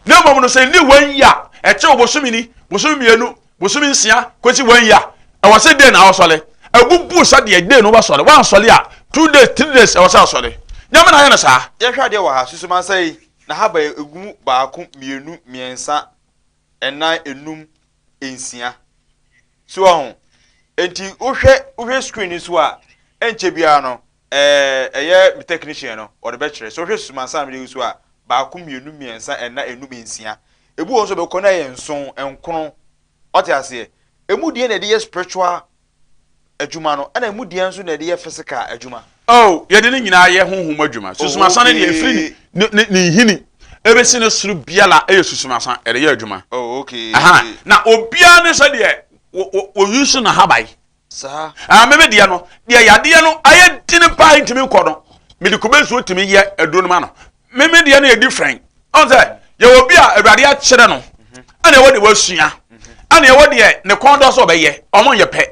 na mmom no sɛ nni wɔnyi a ɛkyɛ ɔbosome ni bosome mmienu bosome nsia kɔsi wɔnyi a ɛwɔ sɛ den na awɔsɔre ɛbubu sɛdeɛ den no wɔsɔre wɔansɔre a two days three days ɛwɔ sɛ asɔre nyame na ayɛ no saa. yɛhwɛ adeɛ wɔ ha susumansa yi na ha ba ɛgu mu baako mmienu mmiɛnsa ɛnan enum nsia so wɔ ho enti wohwɛ wohwɛ screen so a ɛnkyɛ biara no Eh, ɛyɛ me technician no, ɔde bɛkyerɛ. Sɛ wohwɛ susu ma ansa na mede agu so a, baako, mmienu, mmiɛnsa, ɛnna, nnum, nsia. Ebi wɔ hɔ nso a ɛbɛkɔ na ayɛ nson, nkron. Woate aseɛ? Emu deɛ na ɛde yɛ spiritual adwuma no, ɛnna emu deɛ nso na ɛde yɛ physical adwuma. Oh, yɛde ne nyinaa yɛ honhom adwuma. Susu ma ansa no deɛ, ɛfiri ne, ne, ne, ne nhini ɛbɛsi ne soro biara yɛ susu ma ansa, ɛde yɛ adwuma. Oh, okay. Aha, na obiara ne sɛdeɛ wɔ, wɔ, wɔuse n'ahaban, saa. Ah, me me deɛ no, deɛ yadeɛ no ayɛ dini paa ntumi nkɔ no, me de kube nsuo tumi yɛ aduro no ma no. Me me deɛ no yɛ different. Ɔn sɛ, yɛ wɔ bi a awurade akyerɛ no, ɛna ɛwɔ deɛ wasua, ɛna ɛwɔ deɛ ne kɔn dɔ so ɔbɛyɛ, ɔmo nyɛ pɛ.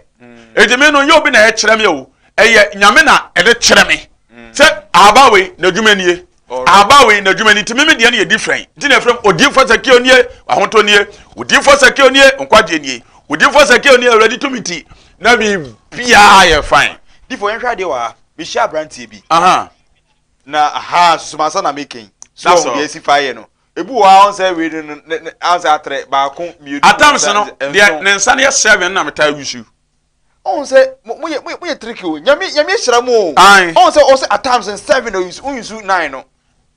Eti me no, yɛ obi na ɛkyerɛ me o, ɛyɛ nyame na ɛde kyerɛ me. Sɛ ahaba wei, n'adwuma nie. Ahabawa wei n'adwuma ni nti meme deɛ no yɛ different nti na ɛfrɛ m odiyifoɔ sakeo nie ahotɔ nie odiyifoɔ sakeo nie nkwagyeɛ nie odiyifoɔ sakeo nie awurade tumi ti na biribiaa yɛ fine difo yɛnhwɛ adeɛ wɔ ha mehyia aberanteɛ bi aha na aha susumansa na meken so ɔho deɛ asi faeɛ no ebi wɔ ha ɔnsɛ wei no no ansɛ atrɛ baako mmienu atams no deɛ ne nsa no yɛ seven na metaa wusu ɔn sɛ mo mo yɛ mo yɛ mo yɛ trick o nyame nyame hyira mo o Ae. ɔn sɛ ɔsɛ at times no seven o yusu yusu nine no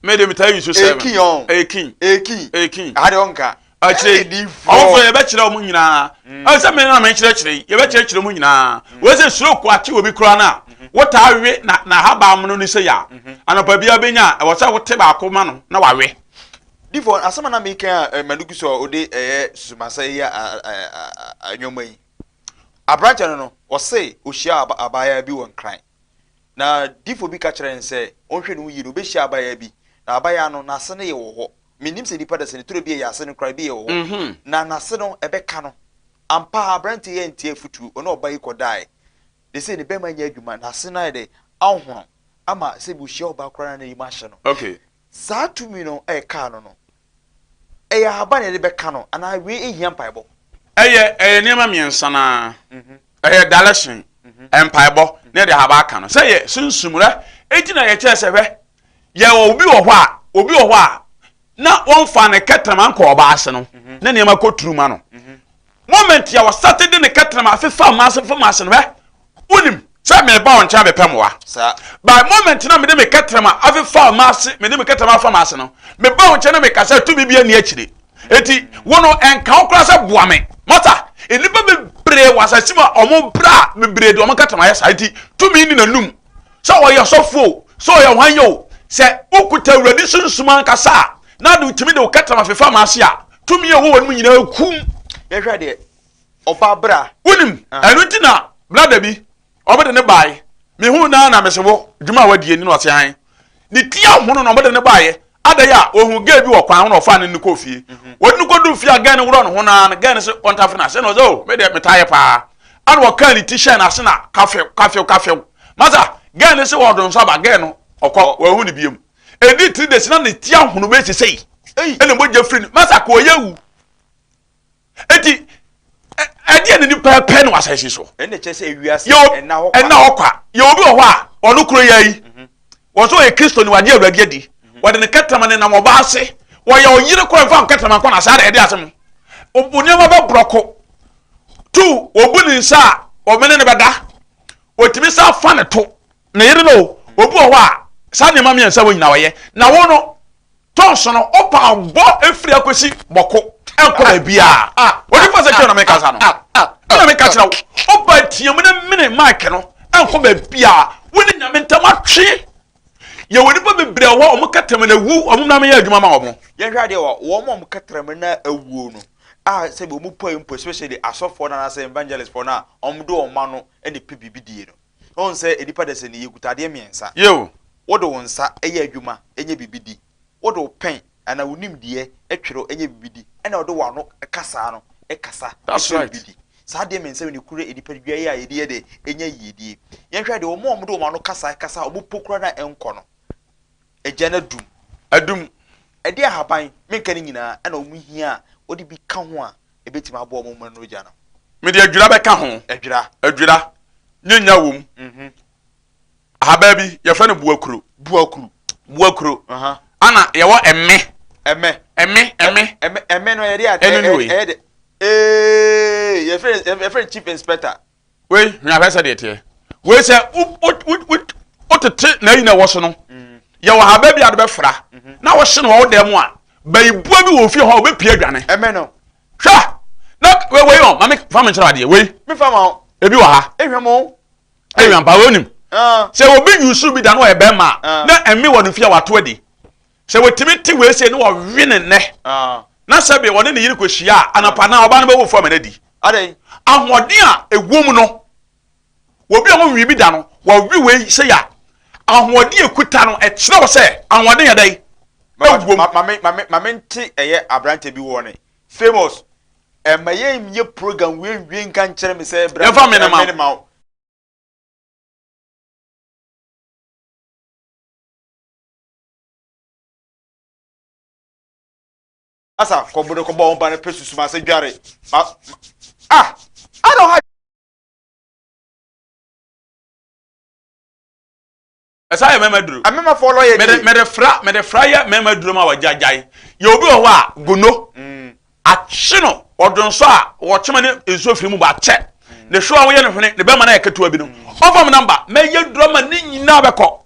Me de metaa yusu seven. Ekin ɔn Ekin. ekin Ekin. aha de ɔnka Akyire yi, ɛdi fɔ ɔmofo yɛbɛkyerɛ wɔn nyinaa. Ɛwɔ sɛ me na mekyerɛkyerɛ yi, yɛbɛkyerɛkyerɛ wɔn nyinaa. Wei sɛ stroke ate obi koraa no a, wotaa we na n'ahaban mono no sei a, anɔpa biara bɛnya a, ɛwɔ sɛ wote baako ma no na wawe. Di fɔ asɛm a na meka a eh, Madugu so a ɔde ɛyɛ susumasɛe yɛ a- a- a- a- nneɛma yi. Aberantsɛ no no, ɔsee ohyiaa abaayaa bi wɔ Nkran, na difo bi ka kyerɛɛ no sɛ ɔnhwɛ no ho yie na obehyia abaayaa bi, na abaayaa no n'ase no yɛ wɔ hɔ. Minnim sɛ nnipa da sɛ neturo bi yɛ yɛase no koraa, ebi yɛ wɔ hɔ, na n'ase no ɛbɛka no. Ampa ara, aberantsɛ yi antie afotuo, ɔne ɔbaa yi kɔdaae, na sei ne bɛrima nyɛ adwuma, n'ase no ayɛ dɛ, ahohono, ama sɛ bi ohyia ɔbaa koraa na n'anim ahyɛ no. Saa tumi no ɛkaa no no, Ɛyɛ ahaban na yɛde bɛka no anaa wei nhia mpaebɔ? Ɛyɛ ɛyɛ nneɛma mmiɛnsa no ara. Ɛyɛ dalehye, mpaebɔ, na yɛde ahaban aka no. Sɛ yɛ sunsum rɛ, enti na yɛkyerɛ sɛ hwɛ, yɛwɔ obi wɔ hɔ a, obi wɔ hɔ a, na wɔmfa ne kɛtrɛma nkɔ ɔbaa ase no, na nneɛma kɔ turu ma no. Moment yɛ wɔ sate de ne kɛtena ma afe fa mmaase mfa mmaase no hwɛ. Wonim sɛ meba wo nkyɛn abɛpɛ mmoa. By moment na mede me kɛtena ma afe fa mmaase mede me kɛtena ma afa mmaase no, meba wo nkyɛn na meka sɛ tumi bia nni akyire. Enti wo no ɛnka wo koraa sɛ boa me. Mata? Nnipa bebree wɔ asase mu a wɔn bra bebree de wɔn kɛtena ayɛ saa. Enti tumi nni n'anum. Sɛ ɔyɛ ɔsɔfo o, sɛ ɔyɛ hwan yɛ o, sɛ wokuta Awurade sunsum ankasa a na wotumi de wo kɛtena ma afe fa mmaase a, tumi a ɛwɔ wɔn mu nyinaa kum. yɛhwɛ deɛ ɔbaa bra. wonim ah. ɛno nti na blada bi ɔbɛde ne baeɛ mehu naa na mese wo dwuma a wadie ne no ɔse han ne ti ahono na ɔbɛde ne baeɛ adɛn a ɔhu gay bi wɔ kwan ho na ɔfaa ne ne kɔ fie mhm. wɔde no kɔdu fie a gay no worɔ ne ho naa no gay no se ɔntafo no ase na ɔsɛ o oh, medeɛ metaeɛ paa ana wɔkaa ne ti hyɛn no ase na kafew kafew kafew masa gay no se wɔdonsaba gay no ɔkɔ wɔahu ne biam Ɛdi three days na ne ti ahono bɛyɛ sɛ sɛi ɛna mogya firi no masa kɔ ɔyɛ wu eti ɛdeɛ ne nipa pɛ no asase so ɛna hɔ kwa yɛ obi wɔ hɔ a ɔno koro yɛ yi mhm. wɔn so ɔyɛ kristo ni wagye awurade adi mhm. wɔde ne kɛtɛma ne nam ɔba ase wɔyɛ ɔyere kora nfa nkɛtɛma nkɔ na saa na ɛde asɛm nneɛma bɛ borɔko tu obu ne nsa a ɔmene ne bɛda otumi sa fa ne to Ne yere no, obi wɔ hɔ a saa nneɛma mmiɛnsa wɔ nyinaa ɔyɛ. Na wo no, tɔ nso no, wopa bɔ firi akɔsi bɔko nkɔ baabiara. A, onipa sɛ kyerɛ na meka saa no. Ɛna meka kyerɛ wo, woba team ne mene Mike no nkɔ baabiara. Wo ne Nyame ntam atwe. Yɛwɔ nnipa bebree wɔ hɔ a wɔn kɛtrɛma na awu, wɔn na meyɛ adwuma ma wɔn. Yɛnhwɛ adeɛ wɔ wɔn a wɔn kɛtrɛma na awuo no a sɛbi wɔn pue mpo especially asɔfoɔ no anaasɛ evangelistfoɔ no a wɔde wɔn ma no na ɛpɛ biribi die no. Ɔn sɛ nnipa da sɛ ni yɛ kuta adeɛ mmiɛnsa. Yiw, wo de wo nsa yɛ adwuma nyɛ biribi di, wo de wo pɛn anaa wo nimdeɛ twere nyɛ biribi di, ɛna wo de w'ano kasaa no kasa kyerɛ biribi di. Saa adeɛ mmiɛnsa wei na ɛkura nnipadua yi a yɛde yɛ dɛ nya yiedie. Yɛnhwɛ adeɛ, wɔn a wɔde wɔn ano kasa kasa a wɔn po koraa na ɛnkɔ no, agyan adum. Adum. Ɛde ahaban, menka ne nyinaa, ɛna wɔn hia a wɔde bi ka ho a, Ebetumi aboa wɔn ma nuru gya no. Mede adwira bɛka ho. Adwira. Adwira. Nye nya wom. Mhm. Ahabaa bi, yɛfrɛ no buakuro. Buakuro. Buakuro. Ana yɛwɔ ɛmɛ. Ɛmɛ. Ɛmɛ. Ɛmɛ. Ɛmɛ. Ɛmɛ no yɛde ade. Ɛno ni wei. Ɛyɛ de. Ee yɛfrɛ yɛfrɛ chief inspector. wei hwɛ ahwɛ sɛ deɛ teɛ wei sɛ wotete na ayi na ɛwɔ so no mm. yɛwɔ ha baabi a de bɛfra mhm. na wɔhye no wɔ wo dan mu a bayibua bi wɔ fie hɔ a wɔbɛpie adwane hwɛ na wei ɔ mame fa me nkyerɛ adeɛ wei ebi wɔ ha ɛhwɛ mpa wɔnim ah. sɛ obi yusu bi da no ɔyɛ bɛrima ah. na ɛme wɔ no fie a wato adi Sɛ watumi te wei sei na ɔwe no nnɛ, na sɛbe ɔne ne yere kɔhyia a, anɔpa anaa ɔbaa no bɛwofo ama no adi. Adɛn? Ahoɔden a ɛwom no, wɔbi a wɔnwee bi da no, wɔwe wei sei a, ahoɔden a ɛkuta no, ɛkyerɛ wɔ sɛ ahoɔden yɛ dɛn? Ɛwom. Ma mente ɛyɛ aberante bi wɔ ne famous ɛma yɛnyɛ program wei nwie nka nkyerɛ me sɛ bra yɛmfa mene ma wo asa kɔbo no kɔbɔ ɔba no pɛ susum ase dware ma ah i don't have ɛsa yɛ mɛma duro amemafoɔ lɔ yɛ die mɛde fra mɛde fra yɛ mɛma duro ma wɔgyagyae yɛ obi wɔ hɔ a gono mm. akye no ɔdo nso a wɔkyema ne nsuo firi mu ba akyɛ mm. ne hwewa woyɛ no hwene ne bɛma no ayɛ ketewa bi no mm. ɔfam namba mɛyɛ duro ma ne nyinaa bɛkɔ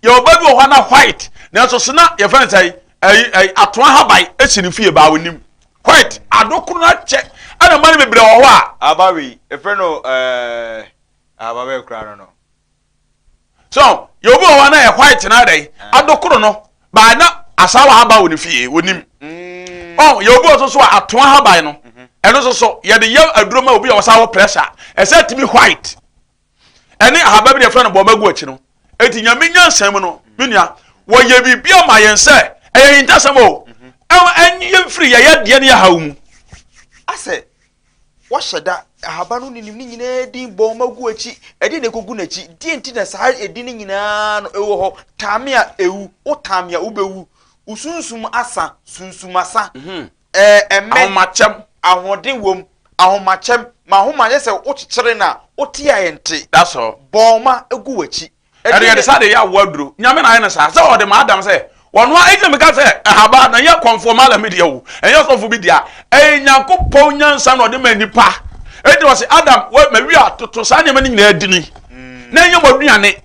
Yɛwɔ ba bi wɔ hɔ a na white nanso so na yɛfrɛ no sɛ ɛyi ɛyi atoa haban esi ne fie baa onim white adokoro no akyɛ ɛna mma no bebree wɔ hɔ a. Aba wei efrɛ no ɛɛ aba bɛyɛ kura no no. So yɛ obi wɔ hɔ a na yɛ white na adɛ adokoro no baa na asawa haban wɔ ne fie onim. Mm. Ɔn yɛ obi wɔ so so a atoa haban no ɛno so so yɛde yɛ aduro ma obi a wɔsa wɔ pressure ɛsɛ tumi white. ɛne ahaba bi na yɛfrɛ no bɔɔma gu akyi no eti nyame nyansa mu no me nua wɔyɛ biribi ama yɛn sɛ ɛyɛ hintasɛm o ɛnye yɛn firi yɛyɛ deɛ ne yɛhaw mu asɛ wɔhyɛ da ahaba no nenim ne nyinaa din bɔɔma gu akyi ɛde na ɛkɔgu n'akyi deɛ nti na saa ɛdi no nyinaa no ɛwɔ hɔ tame a ɛwu wo tame a wobɛwu wosunsum asa sunsum asa mhm. Ɛmɛ, ahomakyɛm, ahoɔden wom, ahomakyɛm, M'ahoma yɛ sɛ wokyekyere no a, wote a ɛnte, That's all. Bɔɔma gu w'akyi, Ɛde ɛde yɛde sade yɛ aboa aduro. Nyame na ayɛ no saa, sɛ ɔde ma Adam sɛ ɔnoa, enti na meka sɛ ɛhabaa no ɛnyɛ kɔmfoɔ Malam bi dea o, ɛnyɛ ɔsɔfo bi dea, ɛyɛ Nyankopɔn nyansa na ɔde ma nnipa, enti ɔse Adam, wɛ, mawie atoto saa nneɛma no nyinaa dini, na ɛnyɛ mo aduane.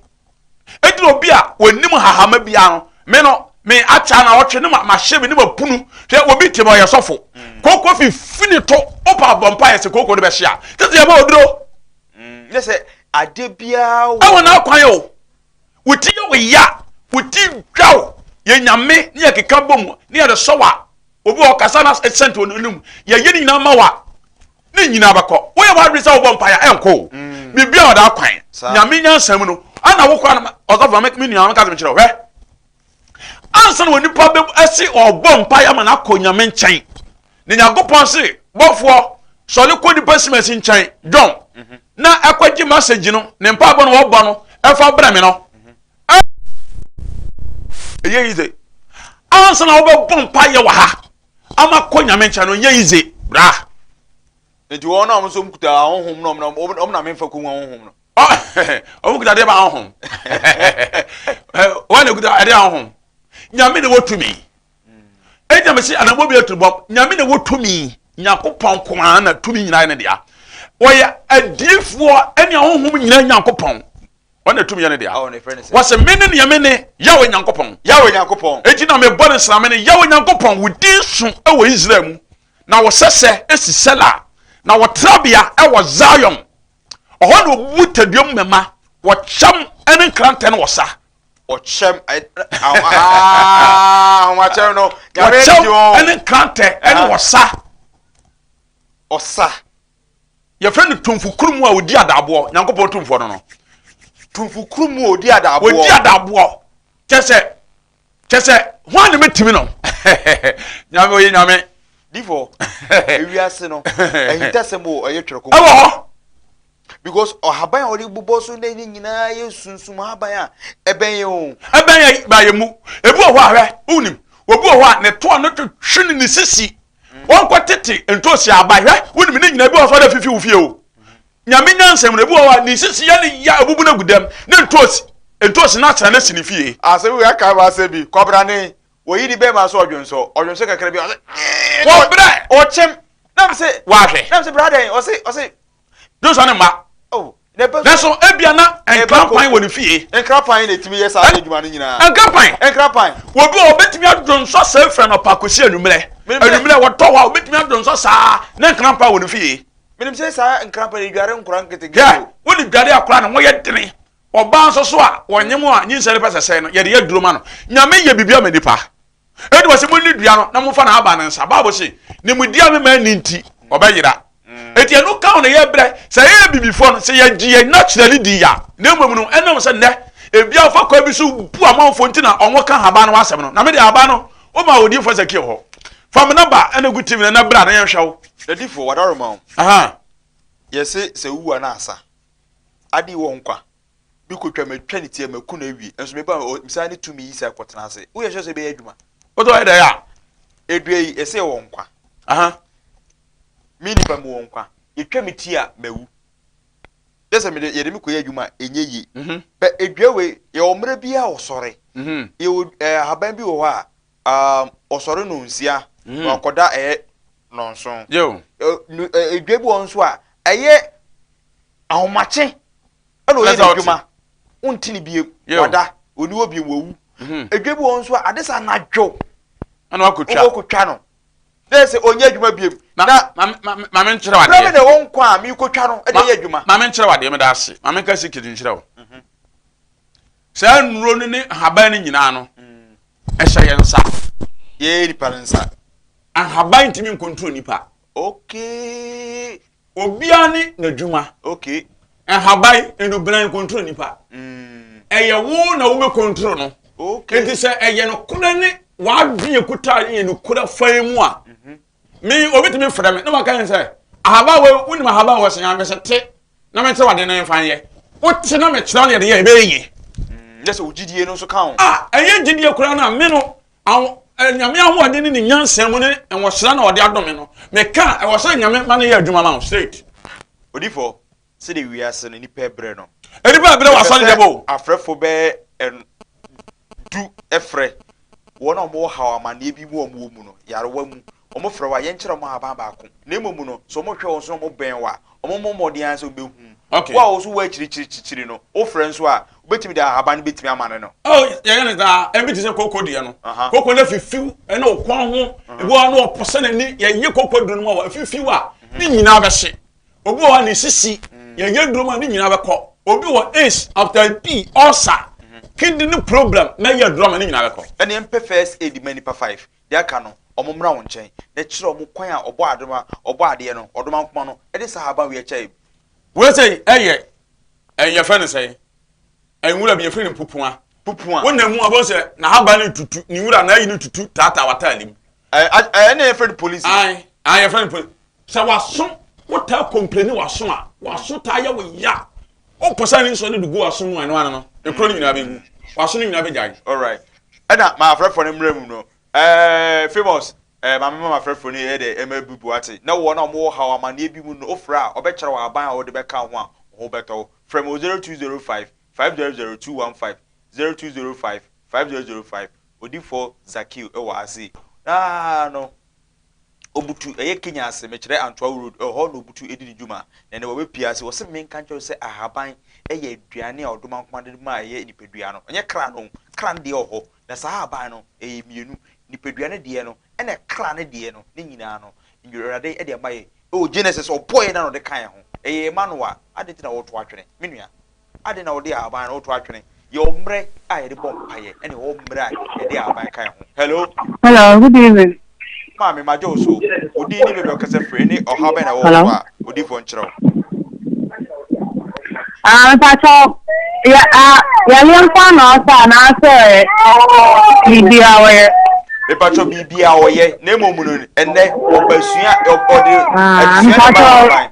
Enti na obi a wɔnim hahama biara no, me no, me akyɛ na ɔtwe ne mahye me ne mapunu hwɛ obi te ma ɔyɛ sɔfo. Mm. Kooko fifi ne to opa bɔ mpa yɛ sɛ kooko no bɛhyia. Tete yɛ bɔ oduro. Mm, ne sɛ ade biara wɔ. Ɛwɔ n'akwan o. Wuti yɛ oya, wuti dwa o. Yɛ nyame ne yɛ keka bɔ mu ne yɛ de sɔ wa. Obi wɔ kasa na ɛsɛnti wɔn anim. Yɛ yɛ ne nyinaa ma wa. ne nyinaa bɛkɔ woyɛ w'adwene sɛ wobɔ mpaeɛ a ɛnkɔ o mm. biribia ɔda akwan nyame nyansa mu no ana wo koraa no ɔsɔfo me nua meka sɛ mekyerɛ hwɛ ansa na onipa bɛ ɛsi ɔbɔ mpaeɛ ama no akɔ nyame nkyɛn ne nyankopɔn se bɔfoɔ sɔre kɔ nipa simasi nkyɛn dɔn mhm. na ɛkɔgye masagyi no ne mpaebɔ no wɔbɔ no ɛfa brɛ me no ɛyɛ yi sɛ ansa na wobɛbɔ mpaeɛ wɔ ha Ama kɔ nyame nkyɛn no nyɛ yize bra. Nti wɔn a wɔn nso kuta ahonhom na wɔn wɔn na menfa kun ahonhom no. Wɔn kuta deɛ ba ahonhom. Wɔn na kuta ɛdeɛ ahonhom. Nyame na wɔ tumi. Ɛdi nyame si anamɔ bi aturu bɔ. Nyame na wɔ tumi. Nyankopɔn kɔmaa na tumi nyinaa ne dea. Wɔyɛ adiifoɔ ɛne ahonhom nyinaa Nyankopɔn. ɔno na tumi yɛ ne dea wɔse mene neɛ mene yawe nyankopɔn yawe nyankopɔn enti na mebɔ ne nsra mene yawe nyankopɔn wo din so wɔ israel mu na wɔsɛsɛ esi sɛla na wɔtrabea wɔ zion ɔhɔ na ɔbubu taduam mɛma wɔkyɛm ne nkrantɛ no wɔ sa ɔkyɛm ahomakyɛm no wɔkyɛm ne nkrantɛ ne wɔ sa ɔsa yɛfrɛ no tumfo kurumu a ɔdi adaaboɔ nyankopɔn tumfoɔ no no tumfo kurumu a ɔdi adaaboɔ ɔdi adaaboɔ kyɛ sɛ kyɛ sɛ ho a ne mɛtumi no nyame ɔyɛ nyame difo ewiase no ahintasɛm o ɔyɛ twerɛ kɔkɔ ɛwɔ hɔ because ɔhaban a ɔde bobɔ so na ɛne nyinaa yɛ sunsum haban a ɛbɛn yɛ o ɛbɛn yɛ ba yɛ mu ebi wɔ hɔ ahwɛ wonim obi wɔ hɔ a ne toa no twetwe ne ne sisi Wɔnkɔ tete ntosi aba hwɛ wonim ne nyina bi wɔ sɔre afifi wo fie o nyame nyansam no bi wɔ hɔ ne sisi yɛ ne ya abubu no gu dɛm ne ntosi ntosi no asra no si ne fie. Asɛm wei akae me asɛm bi kɔbra ne wɔyi ne bɛɛma so ɔdwonsɔ ɔdwonsɔ kakra bi ɔse kɔbrɛ ɔkyem na me se wahwɛ na me se bra dɛn ɔse ɔse Joshua ne mma. Oh, nanso ebia na nkrapan wɔ ne fie. Nkrapan na etumi yɛ saa adwuma no nyinaa. Nkrapan. Nkrapan. Obi a obetumi adodɔ nsɔ saa efura no pa kosi anwummerɛ. Anwummerɛ wɔtɔ hɔ a obetumi adodɔ nsɔ saa ne nkrapan wɔ ne fie. Menim sɛ saa nkrapan yi dware nkora nketenkete. Yɛ wo ne dware akora no wɔyɛ dene. Ɔbaa nso so a wɔnyem a nyinsɛn no pɛ sɛ sɛe no yɛde yɛ aduro ma no. Nyame yɛ biribi ama nipa. Enti wɔse, Monni dua no na momfa n'ahaban no nsa. Bible se, Nimdeɛ a mema nni nti, ɔbɛyera. Enti ɛno ka wo na yɛbrɛ. Sɛ yɛyɛ abibifoɔ no, sɛ yɛgye yɛn nnakyerɛ no di a, na mmom no, ɛnam sɛ nnɛ ebia wɔfa kwan bi so bu amanfoɔ nti na wɔka ahaban no ho asɛm no. Na me deɛ ahaban no, womaa odiyifoɔ Hesekiel hɔ. Fa me nɔba na gu TV no na bra na yɛnhwɛ wo. Na difoɔ, wɔadaworo ma wo. Aha. Yɛse, sɛ wowu a na asa. Ade wɔ nkwa. bi kotwa me twa ne ti a maku no awie nso me ba me saa ne tumi yi sɛ kɔtena ase woyɛ sɛ sɛ bɛyɛ adwuma wotɔ ayɛ dɛ a edua yi ɛsɛ wɔ nkwa aha me nipa mu wɔ nkwa yɛtwa me ti a mawu yɛ sɛ mede yɛde me kɔyɛ adwuma a ɛnyɛ yie mhm. bɛ edua wei yɛwɔ mmerɛ bi a ɔsɔre mhm. yɛwɔ eh, ahaban bi wɔ hɔ a um, ɔsɔre no nsia mhm. wakɔda ɛyɛ nɔnson edua bi wɔ nso a ɛyɛ ahomakye ɛna ɔyɛ n'adwuma wonti ne biem wada ɔni hɔ biem wawu mhm. adwa bi wɔ nso a ade sɛ anadwo ɛna wakɔtwa wɔkɔtwa no dɛ sɛ ɔnyɛ adwuma biem na maame nkyerɛ wadeɛ brɛ me na ɛwɔ nkwa a mekɔtwa no ɛde yɛ adwuma maame nkyerɛ wadeɛ meda ase maame nka si kiri nkyerɛ wo mhm. saa nnuro no ne ahaban no nyinaa no mm. ɛhyɛ yɛn nsa yɛyɛ nipa no nsa ahaban ntumi nkontro nipa okay Obiara ne n'adwuma. Okay. Nhaban, nnubran nkontro nipa. Mm. Ɛyɛ wo na wobɛ kontro no. Okay. Enti sɛ ɛyɛ no korɛ ne w'adwene ekuta yɛ no korɛ fan mu a. Mhm. Me obi tumi frɛ me na waka yɛn sɛ ahaba wɔ wonim ahaba wɔ sɛn amɛ sɛ te na me nkyerɛ wade no mfa yɛ. Wote na me kyerɛ wo deɛ yɛ ɛbɛyɛ yie. Mm, yɛ sɛ wo gyidie no nso ka ho. A ɛyɛ gyidie koraa no a me no Awo, eh, Nyame ahoɔden ne ne nyansa mu ne nwohyerɛ na ɔde adome no. Meka, ɛwɔ sɛ Nyame ma no yɛ adwuma ma wo, straight. Odifo, sɛdeɛ wiase no nipa ɛbrɛ no. Nipa ɛbrɛ wɔ asɔre dɛm o. Ɛsɛ sɛ afrɛfo bɛyɛ du ɛfrɛ wɔn a wɔwɔ haw amaneɛ bi mu a wɔwɔ mu no, yarewa mu. Wɔfrɛ wo a, yɛnkyerɛ wɔn ahaban baako. Na mmom no, sɛ wɔhwɛ wɔn so na wɔbɛn wo a, Wɔbɔ mmɔden ara sɛ wobehu. Okay. Wo a wɔso wɔ akyirikyiri kyikyiri no, wofrɛ nso a, wobetumi de ahaban no betumi ama no no. Oh, yɛyɛ no daa. Ebi te sɛ koko deɛ no. Aha. Koko no fifiw ɛna ɔkwan ho. Ebi wɔ hɔ a na ɔpɔ sɛ n'ani yɛyɛ koko duro no mu a fifiw a ne nyinaa bɛhye. Obi wɔ hɔ a ne sisi yɛyɛ duro mu a ne nyinaa bɛkɔ. Obi wɔ ace, after p, ulcer, kidney problem na yɛ duro ama ne nyinaa bɛkɔ. Ɛne mpɛ first aid ma nipa five. Deɛ aka no, wɔmmra wo nkyɛn, na kyerɛ wɔn kwan a Ɔbɔɔ adoma, Ɔbɔɔ adeɛ no, Ɔdomankoma no, de saa ahaban wei akyɛ yɛn. Wei sei yɛ, ɛn, yɛfrɛ no sɛn? Ɛn, nwura bi, yɛfrɛ no pupua. Pupua. Wo nam mu a, wobɛhu sɛ n'ahaban no retutu, ne nwura, n'ayi no retutu taataa w'ataade mu. Ɛn, ɛn, ɛnna yɛfrɛ no polisi. Ae, ae, yɛfrɛ no polisi. Sɛ w'aso, wotaa kɔmpleni w'aso a, w'aso taa yɛ wo ya. Wopɛ sɛ ne nsɔ no de gu w'aso mu a, ɛno ano no, ekuro no nyinaa bɛgu. W'aso no nyinaa bɛgyae. Alright. Ɛna ma afrɛfoɔ no mmerɛ mu no, ɛɛ Famous, ɛɛ ma mema m'afrɛfoɔ no yɛ dɛ ɛma bi bu ate. Na wɔn a wɔn wɔ haw amaneɛ bi mu no, wofrɛ a, wɔbɛkyerɛ wo aban a wode bɛka ho a wo ho bɛtɔ wo. Frɛ me wɔ 0205 500 215, 0205 500 5. Odifoɔ Zakiu wɔ ase. Naa no. Obutu, ɛyɛ Kenya ase, mekyerɛ Antoawu Road, ɛhɔ na Obutu di ne dwuma. Na ɛnnɛ wabepue ase. Ɔse menka nkyerɛ wo sɛ ahaban yɛ aduane a ɔdoma nkoa de ma a ɛyɛ nipadua no, ɛnyɛ kra no. Kra no deɛ ɔhɔ, na saa ahaban no ɛyɛ mmienu, nipadua no deɛ no ɛna kra no deɛ no, ne nyinaa no Awurade de ama yɛn. Ɛwɔ Genesis, ɔbɔɔ yɛn na na ɔde ka yɛn ho. Ɛyɛ yɛn mma no a, adɛn nti na woreto atwene, me nua? Adɛn na wɔde ahaban no to atwene? Yɛwɔ mmerɛ a yɛde bɔ mpaeɛ, ɛna yɛwɔ mmerɛ a yɛde ahaban ka yɛn ho. Hello. Hello, good evening. Maame, magye wo so. Wo din ne baabi a wokasa firi, ne ɔhaw bɛn na ɛwɔ wo so a odiyifoɔ nkyerɛ wo? Ah, mpatsɔ, yɛ a yɛyɛ nkwa na ɔsɛ anaasɛ biribi a ɔyɛ. Mpatsɔ biribi a ɔyɛ na mmom no ɛnɛ ɔbasua ɔde adesua na ba aban.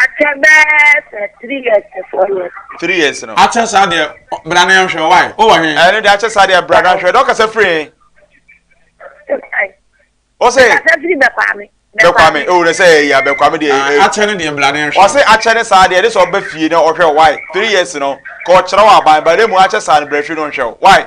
Akyɛ bɛɛ sɛ three years to four years. Three years no. Akyɛ saa deɛ bra na yɛnhwɛ why o wɔ he. Ɛno deɛ akyɛ saa deɛ bra na hwɛ dɛ ɔkasa firi he. Ɔsɛ. Ɔkasa firi bɛkwame. Bɛkwame o na sɛ ɛyɛ a bɛkwame deɛ. Ah, eh. Akyɛ no deɛ bra na yɛnhwɛ. Ɔsɛ akyɛ ne saa deɛ de sɛ ɔbɛ fie na ɔhwɛ why three years no ka ɔkyerɛ wɔ aban ba ne mu akyɛ saa no brɛ hwɛ no nhwɛ why.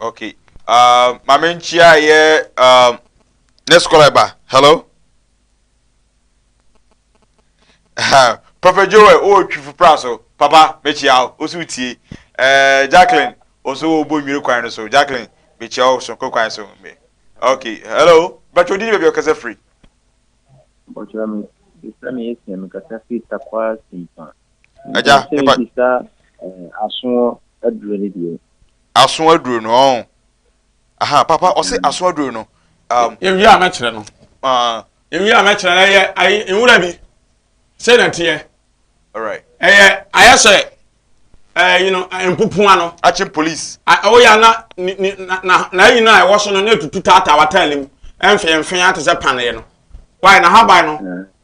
okay uh, maame nkyia yɛ um, next caller ba hello uh, prophet joel o oh, twifo pra so papa mekyia o so tie uh, jacqueline o so o bo nwiri kwan no so jacqueline mekyia o so kwan so me okay hello bàtò di ni baabi ɔkasa firi. bàtò mi sami esi mi kasa firi takwa simpa. Agya, Mepɛ sɛ mepa- bisa eh, aso aduro no bio. aso aduro no ɔn aha papa ɔse Mm. aso aduro no um, yɛwie a mɛkyerɛ no uh, yɛwie a mɛkyerɛ no ɛyɛ ayi nwura bi sɛ na teɛ alright ɛyɛ ayɛ sɛ ɛɛ yi no ɛɛ, mpopoa no akyem police a- ɛwɔ yɛ na ni- ni- na na na ayi no a ɛwɔ so no na etutu taataa wataale mu ɛnfɛnfɛn ate sɛ paneɛ no wae na haban no Eh,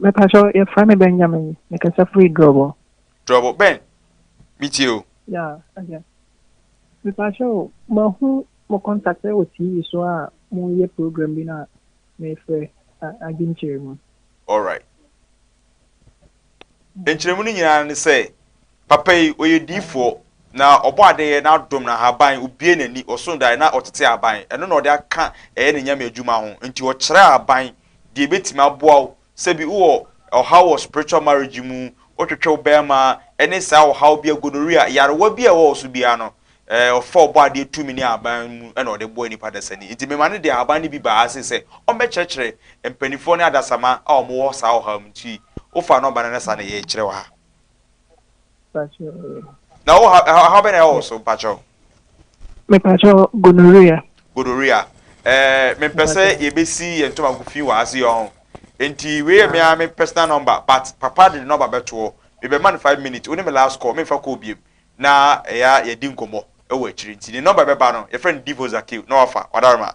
mɛpakyɛ yɛfrɛ me benjamin mekasa firi drɔbɔ drɔbɔ bɛn metie o ya ɛyɛ mepaakyɛ o mahu mo contact wɔ tv so a moyɛ program bi na mefrɛ adwenkyerɛ mu alright nkyerɛmu no nyinaa ne sɛ Papa yi, ɔyɛ diyifoɔ, na ɔbɔ adeyɛ na adom no ahaban, ɔbue n'ani, ɔso daeɛ na ɔtete aban, ɛno na ɔde aka ɛyɛ ne Nyame adwuma ho, nti ɔkyerɛ aban deɛ ɛbɛtumi aboa wo, sɛbi wowɔ ɔhaw wɔ spiritual marriage mu, wotwetwe wo barima, ɛne saa ɔhaw biara, gonorrhea, nyarewa biara a ɛwɔ wo so biara no, eh, ɔfa ɔbɔ adeɛ tumi ne aban mu na ɔde boa nipa dasani, nti mema no de ahaban no bi baa ha sei sɛ ɔmmɛkyerɛkyerɛ mpaninfoɔ ne adasama a wɔwɔ saa ɔhaw mu, nti wofa nɔmba no na saa na yɛkyerɛ wɔ ha. Na wo ha ɛha ha bɛ na ɛwɔ wo so mpakyɛw. Mepakyɛw gonorrhea. Gonorrhea. Eh, me mpɛ sɛ yɛbɛsi yɛn ntoma nko fi wɔ ha se ɔho. Nti wei yɛ me ara me personal number but papa de ne number bɛtoɔ. Mebɛma no five minutes. Wo ne me last call memfa call biam na ɛyɛ a yɛdi nkɔmmɔ wɔ akyiri. Nti ne number bɛba no yɛfrɛ no Divo Zakil na wafa. Wadaremaa.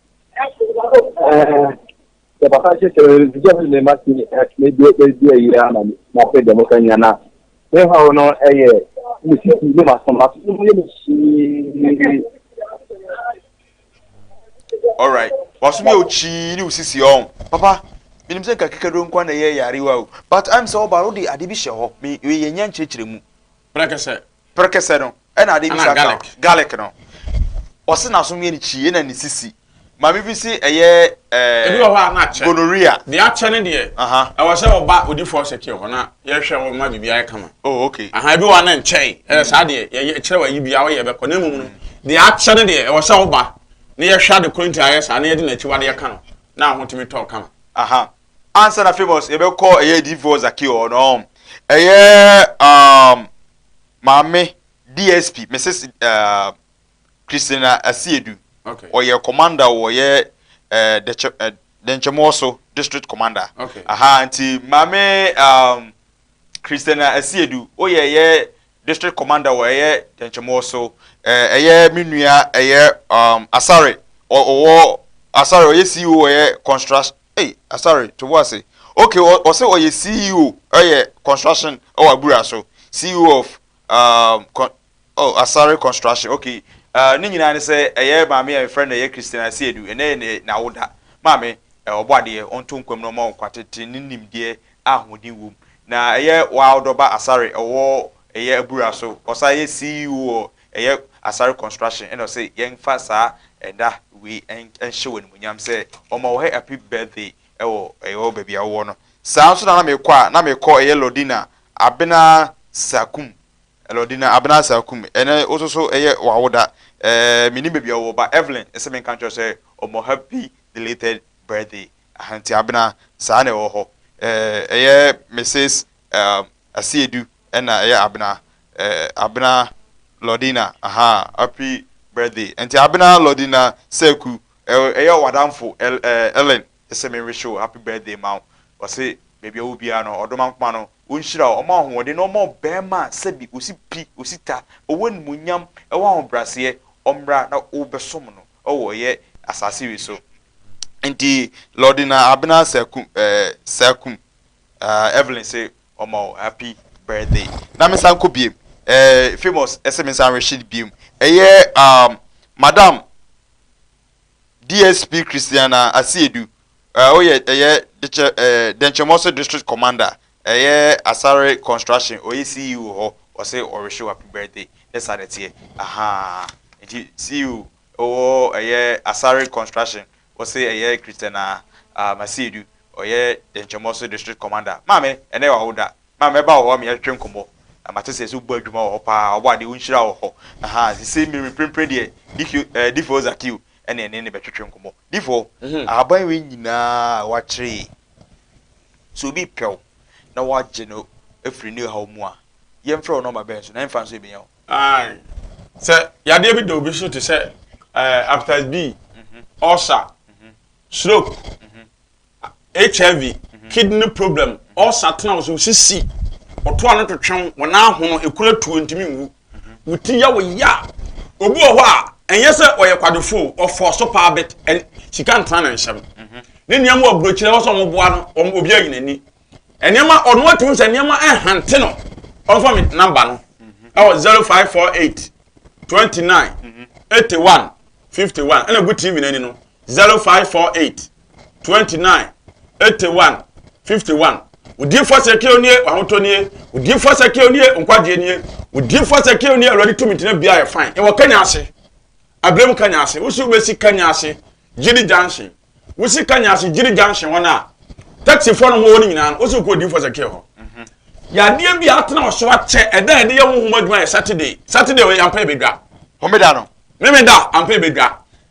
sɛ papa hyɛ sɛ ɛdiyɛ mu ne ma ti ɛdi ɛdi ɛyi ara na ma pɛ dɛm ka nya na ne ha no ɛyɛ ne si si ne ma so ma so ne mu yɛ ne si. alright waso mi okyi ne osisi ɔn papa menim sɛ nka kekaduro nkwa na ɛyɛ yarewa o but i'm sɛ ɔba wode ade bi hyɛ hɔ me yɛ nya nkyerɛkyerɛ mu Prekese. Prekese no, ɛna ade bi sa ka garlic no. Ɔse n'aso yɛ ne kyi, ɛna ne sisi. Maame bi se ɛyɛ ɛɛ. Ebi wɔ hɔ a na akyɛ. Gonorrhea. Deɛ akyɛ ne deɛ. Ɛwɔ sɛ ɔba odi four secure hɔ na yɛhwɛ wɔn ma biribi ayɛ kama. Oh okay. Aha ebi wɔ hɔ a na nkyɛe. Ɛyɛ saa deɛ yɛyɛ kyerɛ wɔ ayi bi a ɔyɛ bɛkɔ na mmom no deɛ akyɛ ne deɛ ɛwɔ sɛ ɔba na yɛhwɛ ade koro nti ayɛ saa na yɛde n'akyiwadeɛ ka no na ahotumi tɔ kama. Aha. Ansa na Famous yɛbɛkɔ ɛyɛ Difoɔ Zaki hɔ no ɔn ɛyɛ um, maame DSP Mrs uh, Christina Asiedu okay. ɔyɛ commander wɔ yɛ uh, dɛkyɛ uh, dɛnkyɛmɔ so district commander okay. aha nti maame um, Christina Asiedu ɔyɛ yɛ District commander wɔ ɛyɛ Dɛnkyɛmɔɔ so ɛɛ ɛyɛ me nua ɛyɛ um, Asare ɔ ɔwɔ Asare ɔyɛ CEO wɔ ɛyɛ construction ei Asare to bo ase ok ɔ ɔsɛ ɔyɛ CEO ɛyɛ construction ɛwɔ Abura so CEO of um, con, oh, Asare construction ok ɛɛ uh, ne nyinaa ne sɛ ɛyɛ maame a yɛfrɛ no ɛyɛ Christina Asiedu ɛnɛ yɛ n'awoda maame ɛɛ ɔbɔ adeɛ ɔnto nkwam na ɔma wo nkwa tete ne nimdeɛ a ahoɔden wom na ɛyɛ Wildɔba Asare ɔwɔ ɛyɛ abura so ɔsan yɛ CEO wɔ ɛyɛ Asare Construction ɛna ɔse yɛnfa saa ɛda wei nhyɛ wɔ animonyam sɛ ɔma wɔ happy birthday ɛwɔ ɛyɔ baabi a wowɔ no saa nso na na mekɔ a na mekɔ ɛyɛ Lordina Abena Sakum Lordina Abena Sakum ɛnɛ woso so ɛyɛ wawoda ɛɛ menim baabi a wowɔ ba Evelyn ɛsɛ menka nkyerɛ sɛ ɔmɔ happy belated birthday Ahantiabena, saa na ɛwɔ hɔ. Ɛyɛ Misis Asiedu na ɛyɛ Abena. Abena Lordina, ahaa, happy birthday. Ɛnti Abena Lordina Seku, ɛyɛ w'adamfo Ellen, ɛsɛ me wish wo happy birthday ma wo. Ɔse baabi a ɔwɔ biara no, Ɔdomankoma no, ɔnhyira wo, ɔma wo ahoɔden na ɔma wo barima a sɛbi ɔsi pi, ɔsi ta, ɔwɔ animuonyam, ɔwɔ ahobraseɛ, ɔmmra na wobɛsom no. ɔwɔ yɛ asase wi so. Nti lɔde na abena sa kum eh sa kum ah Evelyn se ɔma wo happy birthday na me san kɔ biem eh famous se me san rehye biem ɛyɛ um madam DSP Christiana Asiedu eh oyɛ ɛyɛ dekyɛ eh Dɛnkyɛmɔso district commander Ɛyɛ asare construction ɔyɛ CEO hɔ ɔse ɔrehyew happy birthday ne saa na ɛteɛ ahaa nti CEO wɔ ɛyɛ asare construction ɔse ɛyɛ Christian a ah Masiedu ɔyɛ dɛnkyɛmɔ so district commander maame ɛnɛ yɛ wawoda ma mɛba wɔ hɔ me yɛtwetwe nkɔmɔ na mate sɛ ɛsɛ wobɔ adwuma wɔ hɔ paa wabɔ adeɛ wo nhyira wɔ hɔ ahaa sesei mmerɛ mprempren deɛ difio eh difoɔ Zakio ɛne ɛne ne bɛtwetwe nkɔmɔ difoɔ ahaban wei nyinaa a wakyere yi Sɛ obi repɛ wo na woagye no afiri ne haw mu a, yɛmfrɛ wo nɔma bɛn so, na ɛhe mfaso ebenya wo? Ae. Sɛ yadeɛ bi da obi so te sɛ eh, hepatitis B, ulcer, stroke, HIV, kidney problem, ulcer tena wo so, wo sisi, ɔtoa no twetwe wo, wo nan hono, ekura tuo, ntumi nwu. wo ti ya wo ya obi wɔ hɔ a ɛnyɛ sɛ ɔyɛ kwadwofo ɔfɔ so paa bɛt sika ntena ne nsɛm mhm. ne nneɛma wɔ burokyerɛ wɔsɛ wɔn boa no wɔn obi ayi n'ani nneɛma ɔno atum sɛ nneɛma ɛhante no ɔnfa mi namba no mhm. ɛwɔ zero five four eight twenty nine mhm. eighty one fifty one ɛna gu tv n'ani no. zero five four eight twenty nine eighty one fifty one odiyifoɔ sɛkeo nie wahotɔ nie odiyifoɔ sɛkeo nie nkwagyeɛ nie odiyifoɔ sɛkeo nie awurade tumi tena bia yɛ fan ɛwɔ kanya ase abirem kanya ase wosi wobɛsi kanya ase gyiri junction wosi kanya ase gyiri junction wɔn a taxifoɔ no wɔwɔ no nyinaa no wosi wokɔ odiyifoɔ sɛkeo hɔ yadeɛ bi a atena wɔ so akyɛ ɛda a yɛde yɛ honhom adwuma yɛ saturday saturday ɔyɛ ampa ebedwa homeda no memeda ampa ebedwa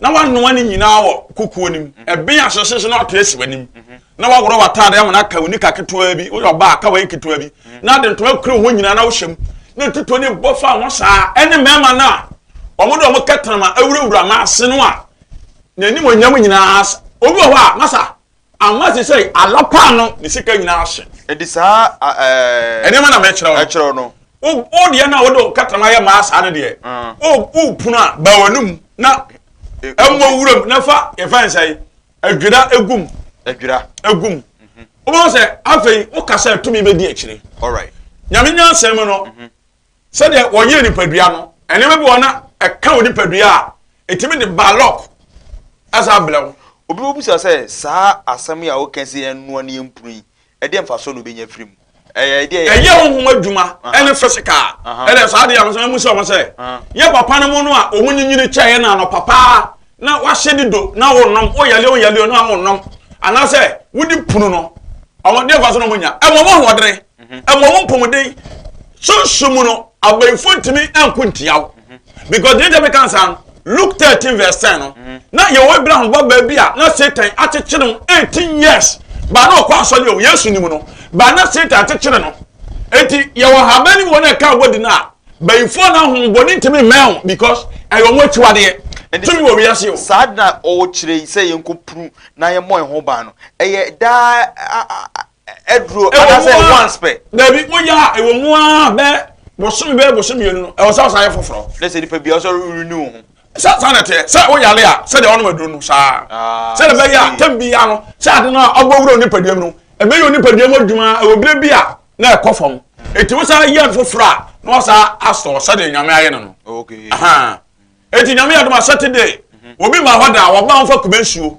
na wanoa ne nyinaa wɔ kukuo no mu mhm. ɛbɛn asosese na ɔte asi w'anim mhm. na waworɔ w'ataade ama no aka wo nika ketewa bi woyɛ ɔbaa aka w'ayɛ ketewa bi mhm. na ade ntoma kura ho nyinaa na wohyɛ mu na tutuo ne bɔ fa ho saa ɛne mmarima no a wɔn de wɔn kɛtɛnama awurawura n'ase no a n'anim onyam nyinaa obi wɔ hɔ a masa Anwa te sɛ ala paa no ne sika nyinaa ahye. Enti saa nneɛma na mekyerɛw no. Wo deɛ no a wode nkatama yɛ maa saa no deɛ, wopono a, ba w'anom na mmɔ wuram na fa yɛfɛn sɛ adwira egum. Adwira egum. Mhm. Wobɛhu sɛ afei wokasa tumi bɛdi akyire. Nyame nyansɛm mu no, mhm. sɛdeɛ wɔyɛ nipadua no nneɛma bi wɔ na ɛka wo nipadua a ɛtumi de balɔk ɛsa abrɛ wo. Obi bɛbisa sɛ saa asɛm yi a woka sɛ yɛnnoa ne yɛmpunu yi ɛdeɛ mfasoɔ na obɛnya firi mu? Ɛyɛ ɛdeɛ yɛ ɛyɛ honhom adwuma ɛne physical ɛdɛ saa adeɛ a wɔsɛ mu sɛ wɔn sɛ yɛ papa no mu no a wɔn nyinyini kyɛɛ na anɔ papaa na wahyɛ de do na wɔnom wɔyɛlɛ wɔyɛlɛ no a wɔnom anaasɛ wodi punu no wɔn deɛ mfasoɔ na wɔnya ɛmɔ wɔn ahoɔdene ɛmɔ mhm. wo mpɔmuden sunsun mu no abayifo ntumi nko ntia wo mhm. because deɛ ɛdɛm kan saa no luke thirteen verse ten no mhm. na yɛwɔ abraham ba baabi a na satan akyekyere no eighteen years baa na ɔkɔ asɔre o yesu nim no baa na satan akyekyere no eti yɛwɔ ahaban ne mu wɔn a ɛka abɔ di no a bayifo na ahom bɔ ne ntumi mɛn because ɛyɛ wɔn akyiwadeɛ tumi wɔ wiase o. saa na ɔwɔ kyerɛ yi sɛ yɛn ko puru na yɛn mɔ ɛho ban no ɛyɛ daa aduro anaasɛ once pɛ. dabi woyɛ a ɛwɔ mu a bɛ bosome bɛɛ bosome mmienu no ɛwɔ sɛ ɔsan yɛ foforɔ. ne sɛ nipa bi ɔsɛ renew ho. sɛ saa na ɛteɛ sɛ woyare a sɛdeɛ ɔnom aduro no saa ah, sɛdeɛ bɛyɛ a tam bi ya no sɛ ade no a ɔbɔ wura nipadua mu no ɛbɛyɛ onipadua mu adwuma ɛwɔ berɛ bi a na ɛkɔ fam ɛti wo saa yɛ foforɔ a na wasaa asɔ sɛdeɛ nyame ayɛ no no ɛti nyame yɛ doma sɛtede obi ma hɔ da wɔba wo fa kuma nsuo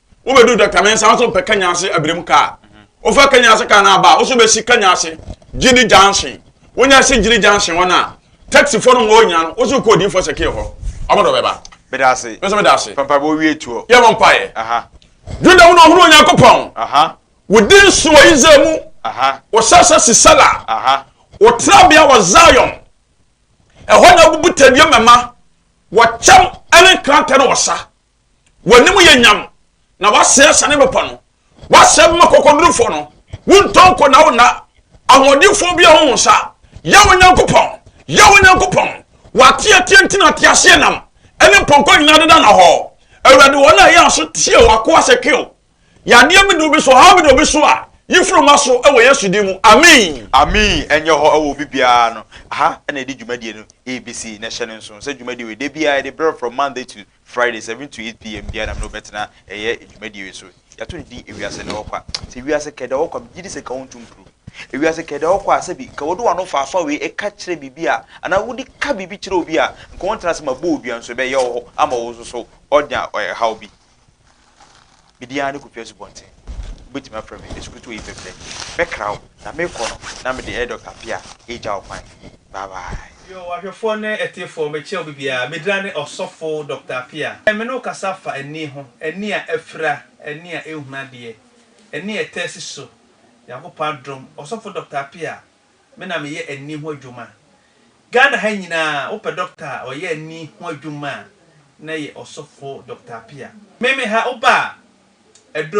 wobɛdu dɔkta mensa wo nso mpɛ kanya ase abirim kaa wofa kanya ase kaa no aba a wo nso bɛsi kanya ase gyini junction wonya si gyini junction hɔ no a taxifoɔ no ma ɔnya no wo nso kɔ odiifoɔ sɛ kee hɔ ɔmo dɔ bɛba meda ase nso meda ase pampa bɛ owie tuo yɛ mo mpaeɛ juda wo na ɔhunu onyankopɔn wodi nso wɔ israel mu wɔsasa sisala wɔtrabea wɔ zion ɛhɔ na abubu tadua mɛma wɔkyɛm ɛne nkrantɛ no wɔsa w'anim yɛ nyam na wasɛe asane bɛpa no wasɛe bɛma kɔkɔdurufoɔ no wontɔ nko na wonna ahoɔdenfoɔ bi a wo nsa yɛ wo nyankopɔn yɛ wo nyankopɔn w'ateateɛ nti na ateaseɛ nam ɛne mpɔnkɔ nyinaa deda na hɔ awurade wɔn a ɛyɛ aso tie w'akoa sɛ kew Yadeɛ bi de obi so, ɔhaw bi de obi so a, yi firi ma so wɔ Yesu din mu. Amen. Amen. Ɛnyɛ hɔ wɔ obi biara no. Aha na yɛde dwumadie no rebɛsi na hyɛ no nso sɛ dwumadie wei da biara yɛde berɛ from Monday to Friday 7 to 8 pm biara nam na wobɛtena ɛyɛ dwumadie wei so. Yɛato no din ewiase na wɔkɔ a. Sɛ wiase kɛda wɔkɔ a megye di sɛ nka wontu mpuru. Ewiase kɛda wɔkɔ a sɛbi nka wɔde wano faafa wei ɛka kyerɛ biribi a anaa wode ka biribi kyerɛ obi a nka wɔntena ase ma bɔ odua nso ɛbɛyɛ wɔ hɔ ama wo nso so ɔnya ɛhaw bi. me din ara ne Kofi Asubɔnten. Wobɛtumi afrɛ me Asukutu Oyipɛprɛ. Mɛkra wo, na merekɔ no, na mede ɛyɛ Dɔkta Appiah regya wo kwan. Bye bye. Yo, w'ahwɛfoɔ ne atiefoɔ, mekyea obi biara. Me din ara ne Ɔsɔfo Dɔkta Appiah. Ɛnnɛ me ne wo kasa fa ani ho, ani a afira, ani a ɛnhunu adeɛ, ani a ɛtaa si so. Nyankopɔn adom, Ɔsɔfo Dɔkta Appiah, Me na meyɛ ani ho adwuma. Ghana ha nyinaa wopɛ dɔkta a ɔyɛ ani ho adwuma a na ɛyɛ ɔsɔfo Dɔkta Appiah. Meme ha woba a ɛdɔ